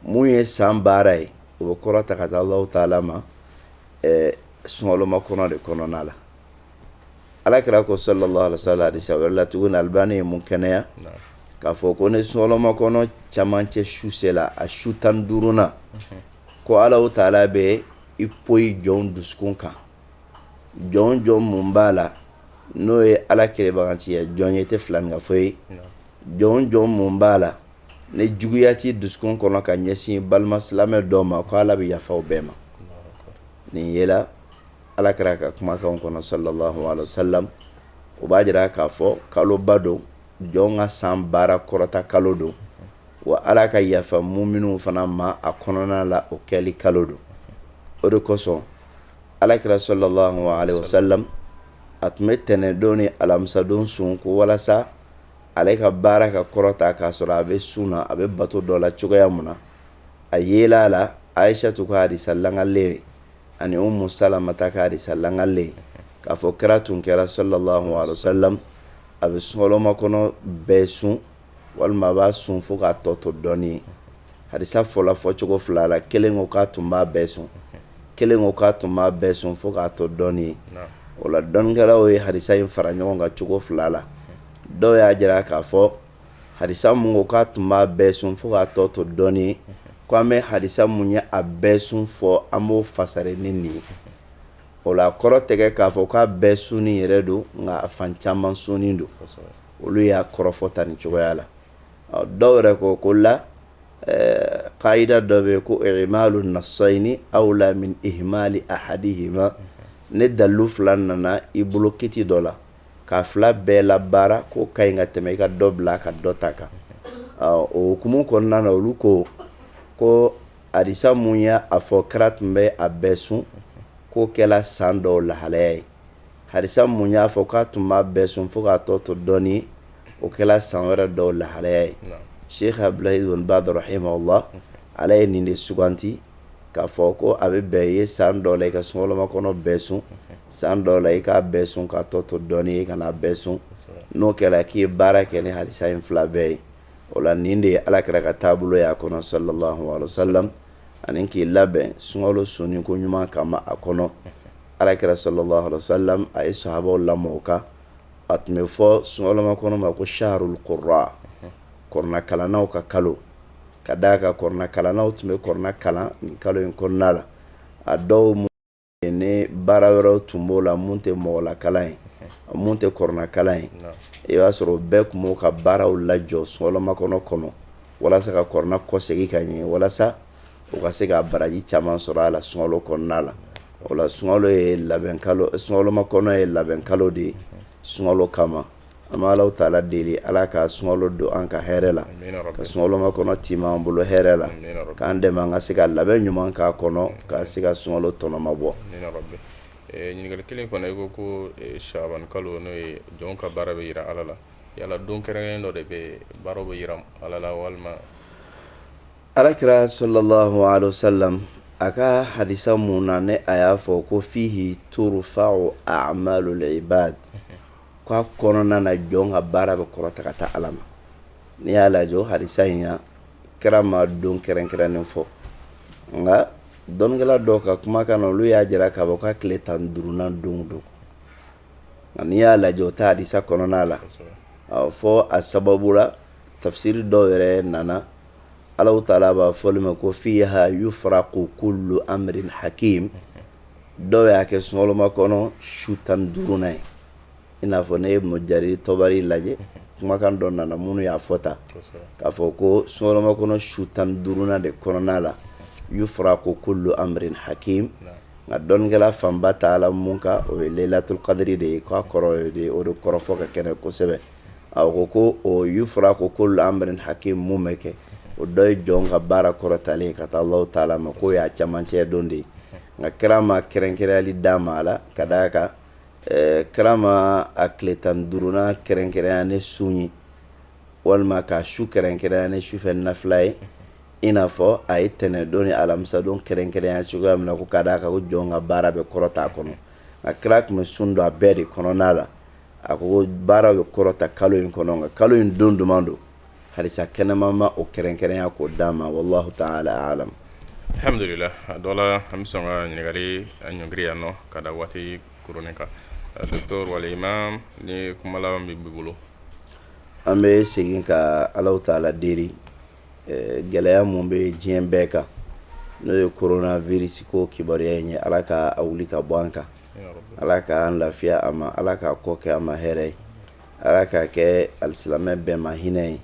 mun ye san baara ye o bɛ kɔrɔta ka taa ala taala ma sunkalomakɔnɔ de kɔnɔna la alakira ko sallallahu alayhi wa sallam hadisi wɛrɛ la tuguni albani ye mun kɛnɛya k'a fɔ ko ni sunkalomakɔnɔ cɛmancɛ su sela a su tan duurunna ko ala taala bɛ i poyi jɔn dusukun kan jɔn jɔn mun b'a la n'o ye ala kɛlɛbaganci ye jɔn ye tɛ filankafo ye jɔn jɔn mun b'a la ni juguya t'i dusukun kɔnɔ ka ɲɛsin balima silamɛ dɔ ma ko ala bɛ yafa o bɛɛ ma nin yela alakira ka kumakan kɔnɔ sallallahu alaihi wasallam o b'a jira k'a fɔ kaloba don jɔn ka san baara kɔrɔta kalo don wa ala ka yafa muminun fana ma a kɔnɔna la o kɛli kalo don o de kosɔn alakira sallallahu alaihi wasallam a tun bɛ tɛnɛndon ni alamisadon sun ko walasa ale ka baara ka kɔrɔta k'a sɔrɔ a bɛ sun na a bɛ bato dɔ la cogoya min na a yela a la ayisatu ka hadisa lakalen ani umu salamata ka hadisa lakalen k'a fɔ kira tun kɛra sallallahu alaihi wasallam a bɛ sunkalomakɔnɔ bɛɛ sun walima a b'a sun fo k'a tɔ to dɔɔnin ye hadisa fɔla fɔcogo fila la kelen ko k'a tun b'a bɛɛ sun kelen ko k'a tun b'a bɛɛ sun fo k'a tɔ dɔɔnin ye o la dɔnnikɛlaw ye hadisa in fara ɲɔgɔn kan cogo fila la dɔw y'a jira k'a fɔ hadisa mun ko k'a tun b'a bɛɛ sun fo k'a tɔ to dɔɔnin ye ko an bɛ hadisa mun ye a bɛɛ sun fɔ an b'o fasari ni nin ye o la kɔrɔ tɛ kɛ k'a fɔ k'a bɛɛ sunni yɛrɛ don nka a fan caman sunni don olu y'a kɔrɔfɔ tan nin cogoya la dɔw yɛrɛ ko ko la qaida dɔ bɛ yen ko i'malu nassayni awla min ihmali ahadihima ni dalu fila nana i bolo kiti dɔ la k'a fila bɛɛ labaara k'o ka ɲi ka tɛmɛ i ka dɔ bila ka dɔ ta kan o hukumu kɔnɔna na olu ko ko hadisa mun y'a fɔ kira tun bɛ a bɛɛ sun k'o kɛra san dɔw lahalaya ye hadisa mun y'a fɔ k'a tun b'a bɛɛ sun fo k'a tɔ to dɔɔnin o kɛra san wɛrɛ dɔw lahalaya ye sheikh abdulahi ibn baz rahimahullah ale ye nin de suganti k'a fɔ ko a bɛ bɛn ye san dɔ la i ka sunkalomakɔnɔ bɛɛ sun san dɔ la i k'a bɛɛ sun k'a tɔ to dɔɔnin i kana a bɛɛ sun n'o kɛra k'i ye baara kɛ ni hadisa in fila bɛɛ ye o la nin de ye alakira ka taabolo y'a kɔnɔ sallallahu alaihi wasallam ani k'i labɛn sunkalo sunni ko ɲuman kama a kɔnɔ Alakira sallallahu alaihi wasallam a ye sahabaw lamɔ o kan a tun bɛ fɔ sunkalomakɔnɔ ma ko shahrul qurra kurana kalannaw ka kalo ka d'a kan kurana kalannaw tun bɛ kurana kalan nin kalo in kɔnɔna la a dɔw ni baara wɛrɛ tun b'o la minnu tɛ mɔgɔlakalan ye minnu tɛ kuranakalan ye i b'a sɔrɔ bɛɛ tun b'o ka baaraw lajɔ sunkalomakɔnɔ kɔnɔ walasa ka kurana kɔsegin ka ɲɛ walasa o ka se ka baraji caman sɔrɔ a la sungalo kɔnɔna la o la sungalo ye labɛn kalo sungalomakɔnɔ ye labɛn kalo de ye sungalo kama an bɛ Alahu taala deli Ala ka sungalo don an ka hɛrɛ la ka sungalomakɔnɔ tiimɛ an bolo hɛrɛ la k'an dɛmɛ an ka se ka labɛn ɲuman k'a kɔnɔ ka se ka sungalo tɔnɔ mabɔ. Ɲininkali kelen fana i ko ko saabani kalo n'o ye jɔnw ka baara bɛ jira Ala la yala don kɛrɛnkɛrɛnnen dɔ de bɛ yen baaraw bɛ jira Ala la walima Ala kira sallallahu alaihi wasallam a ka hadisa mun na ne a y'a fɔ ko fihi turfa'u a'malul ibad k'a kɔnɔna na jɔn ka baara bɛ kɔrɔta ka taa ala ma n'i y'a lajɛ o hadisa in na kira ma don kɛrɛnkɛrɛnnen fɔ nka dɔnnikɛla dɔw ka kumakan na olu y'a jira k'a fɔ k'a tile tan ni duurunan don don nka n'i y'a lajɛ o ta hadisa kɔnɔna la fɔ a sababu la tafisiri dɔw yɛrɛ nana Ala taala b'a fɔli ma ko fiha yufraqu kullu amrin hakim dɔw y'a kɛ sungalomakɔnɔ su tan ni duurunan ye i n'a fɔ ne ye Ibn Jarir Tabari lajɛ kumakan dɔ nana minnu y'a fɔ ta k'a fɔ ko sungalomakɔnɔ su tan ni duurunan de kɔnɔna la yufraqu kullu amrin hakim nka dɔnnikɛla fanba taala mun kan o ye Laylatul Qadri de ye k'a kɔrɔ de o de kɔrɔfɔ fɔ ka kɛnɛ kosɛbɛ a ko ko yufraqu kullu amrin hakim mun bɛ kɛ o dɔ ye jɔn ka baara kɔrɔtalen ka taa Ala taala ma k'o y'a camancɛ don de ye nka kira ma kɛrɛnkɛrɛnyali d'a ma a la ka da a kan kira ma a tile tan ni duurunan kɛrɛnkɛrɛnya ni sun ye walima k'a su kɛrɛnkɛrɛnya ni sufɛ nafila ye i n'a fɔ a ye tɛnɛndon ni alamisadon kɛrɛnkɛrɛnya cogoya min na ko ka d'a kan jɔn ka baara bɛ kɔrɔta a kɔnɔ nka kira tun bɛ sun don a bɛɛ de kɔnɔna la A ko baara bɛ kɔrɔta kalo in kɔnɔ nka kalo in don duman don hadisa kɛnɛma ma o kɛrɛnkɛrɛnya k'o d'a ma wallahu taala alamu alhamdulillah a dɔ la an bɛ sɔn ka ɲininkali ɲɔngiri yan nɔ ka da waati kurunin kan docteur wala imam ni kuma laban b'i bolo an bɛ segin ka Ala taala deli gɛlɛya mun bɛ diɲɛ bɛɛ kan n'o ye coronavirus ko kibaruya in ye ala k'a wuli ka bɔ an kan ala k'an lafiya a ma ala ka kɔ kɛ an ma hɛrɛ ye ala k'a kɛ alisilamɛ bɛɛ ma hinɛ ye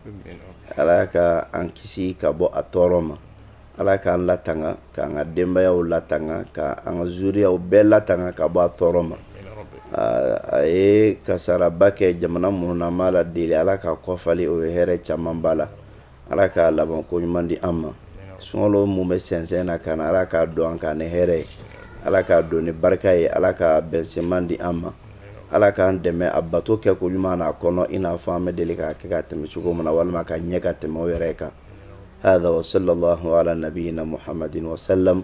ala ka an kisi ka bɔ a tɔɔrɔ ma ala k'an latanga k'an ka denbayaw latanga ka an ka zuriyaw bɛɛ latanga ka bɔ a tɔɔrɔ ma a ye kasaraba kɛ jamana minnu na an b'Ala deli ala ka kɔfali o ye hɛrɛ caman ba la ala k'a laban ko ɲuman di an ma sunkalo mun bɛ sɛnsɛn na ka na ala k'a don an kan ni hɛrɛ ye ala k'a don ni barika ye ala ka bɛnsenman di an ma ala k'an dɛmɛ a bato kɛ ko ɲuman na a kɔnɔ i n'a fɔ an bɛ deli k'a kɛ ka tɛmɛ cogo min na walima ka ɲɛ ka tɛmɛ o yɛrɛ kan hada wa sallallahu ala nabiyina muhamadin wa salam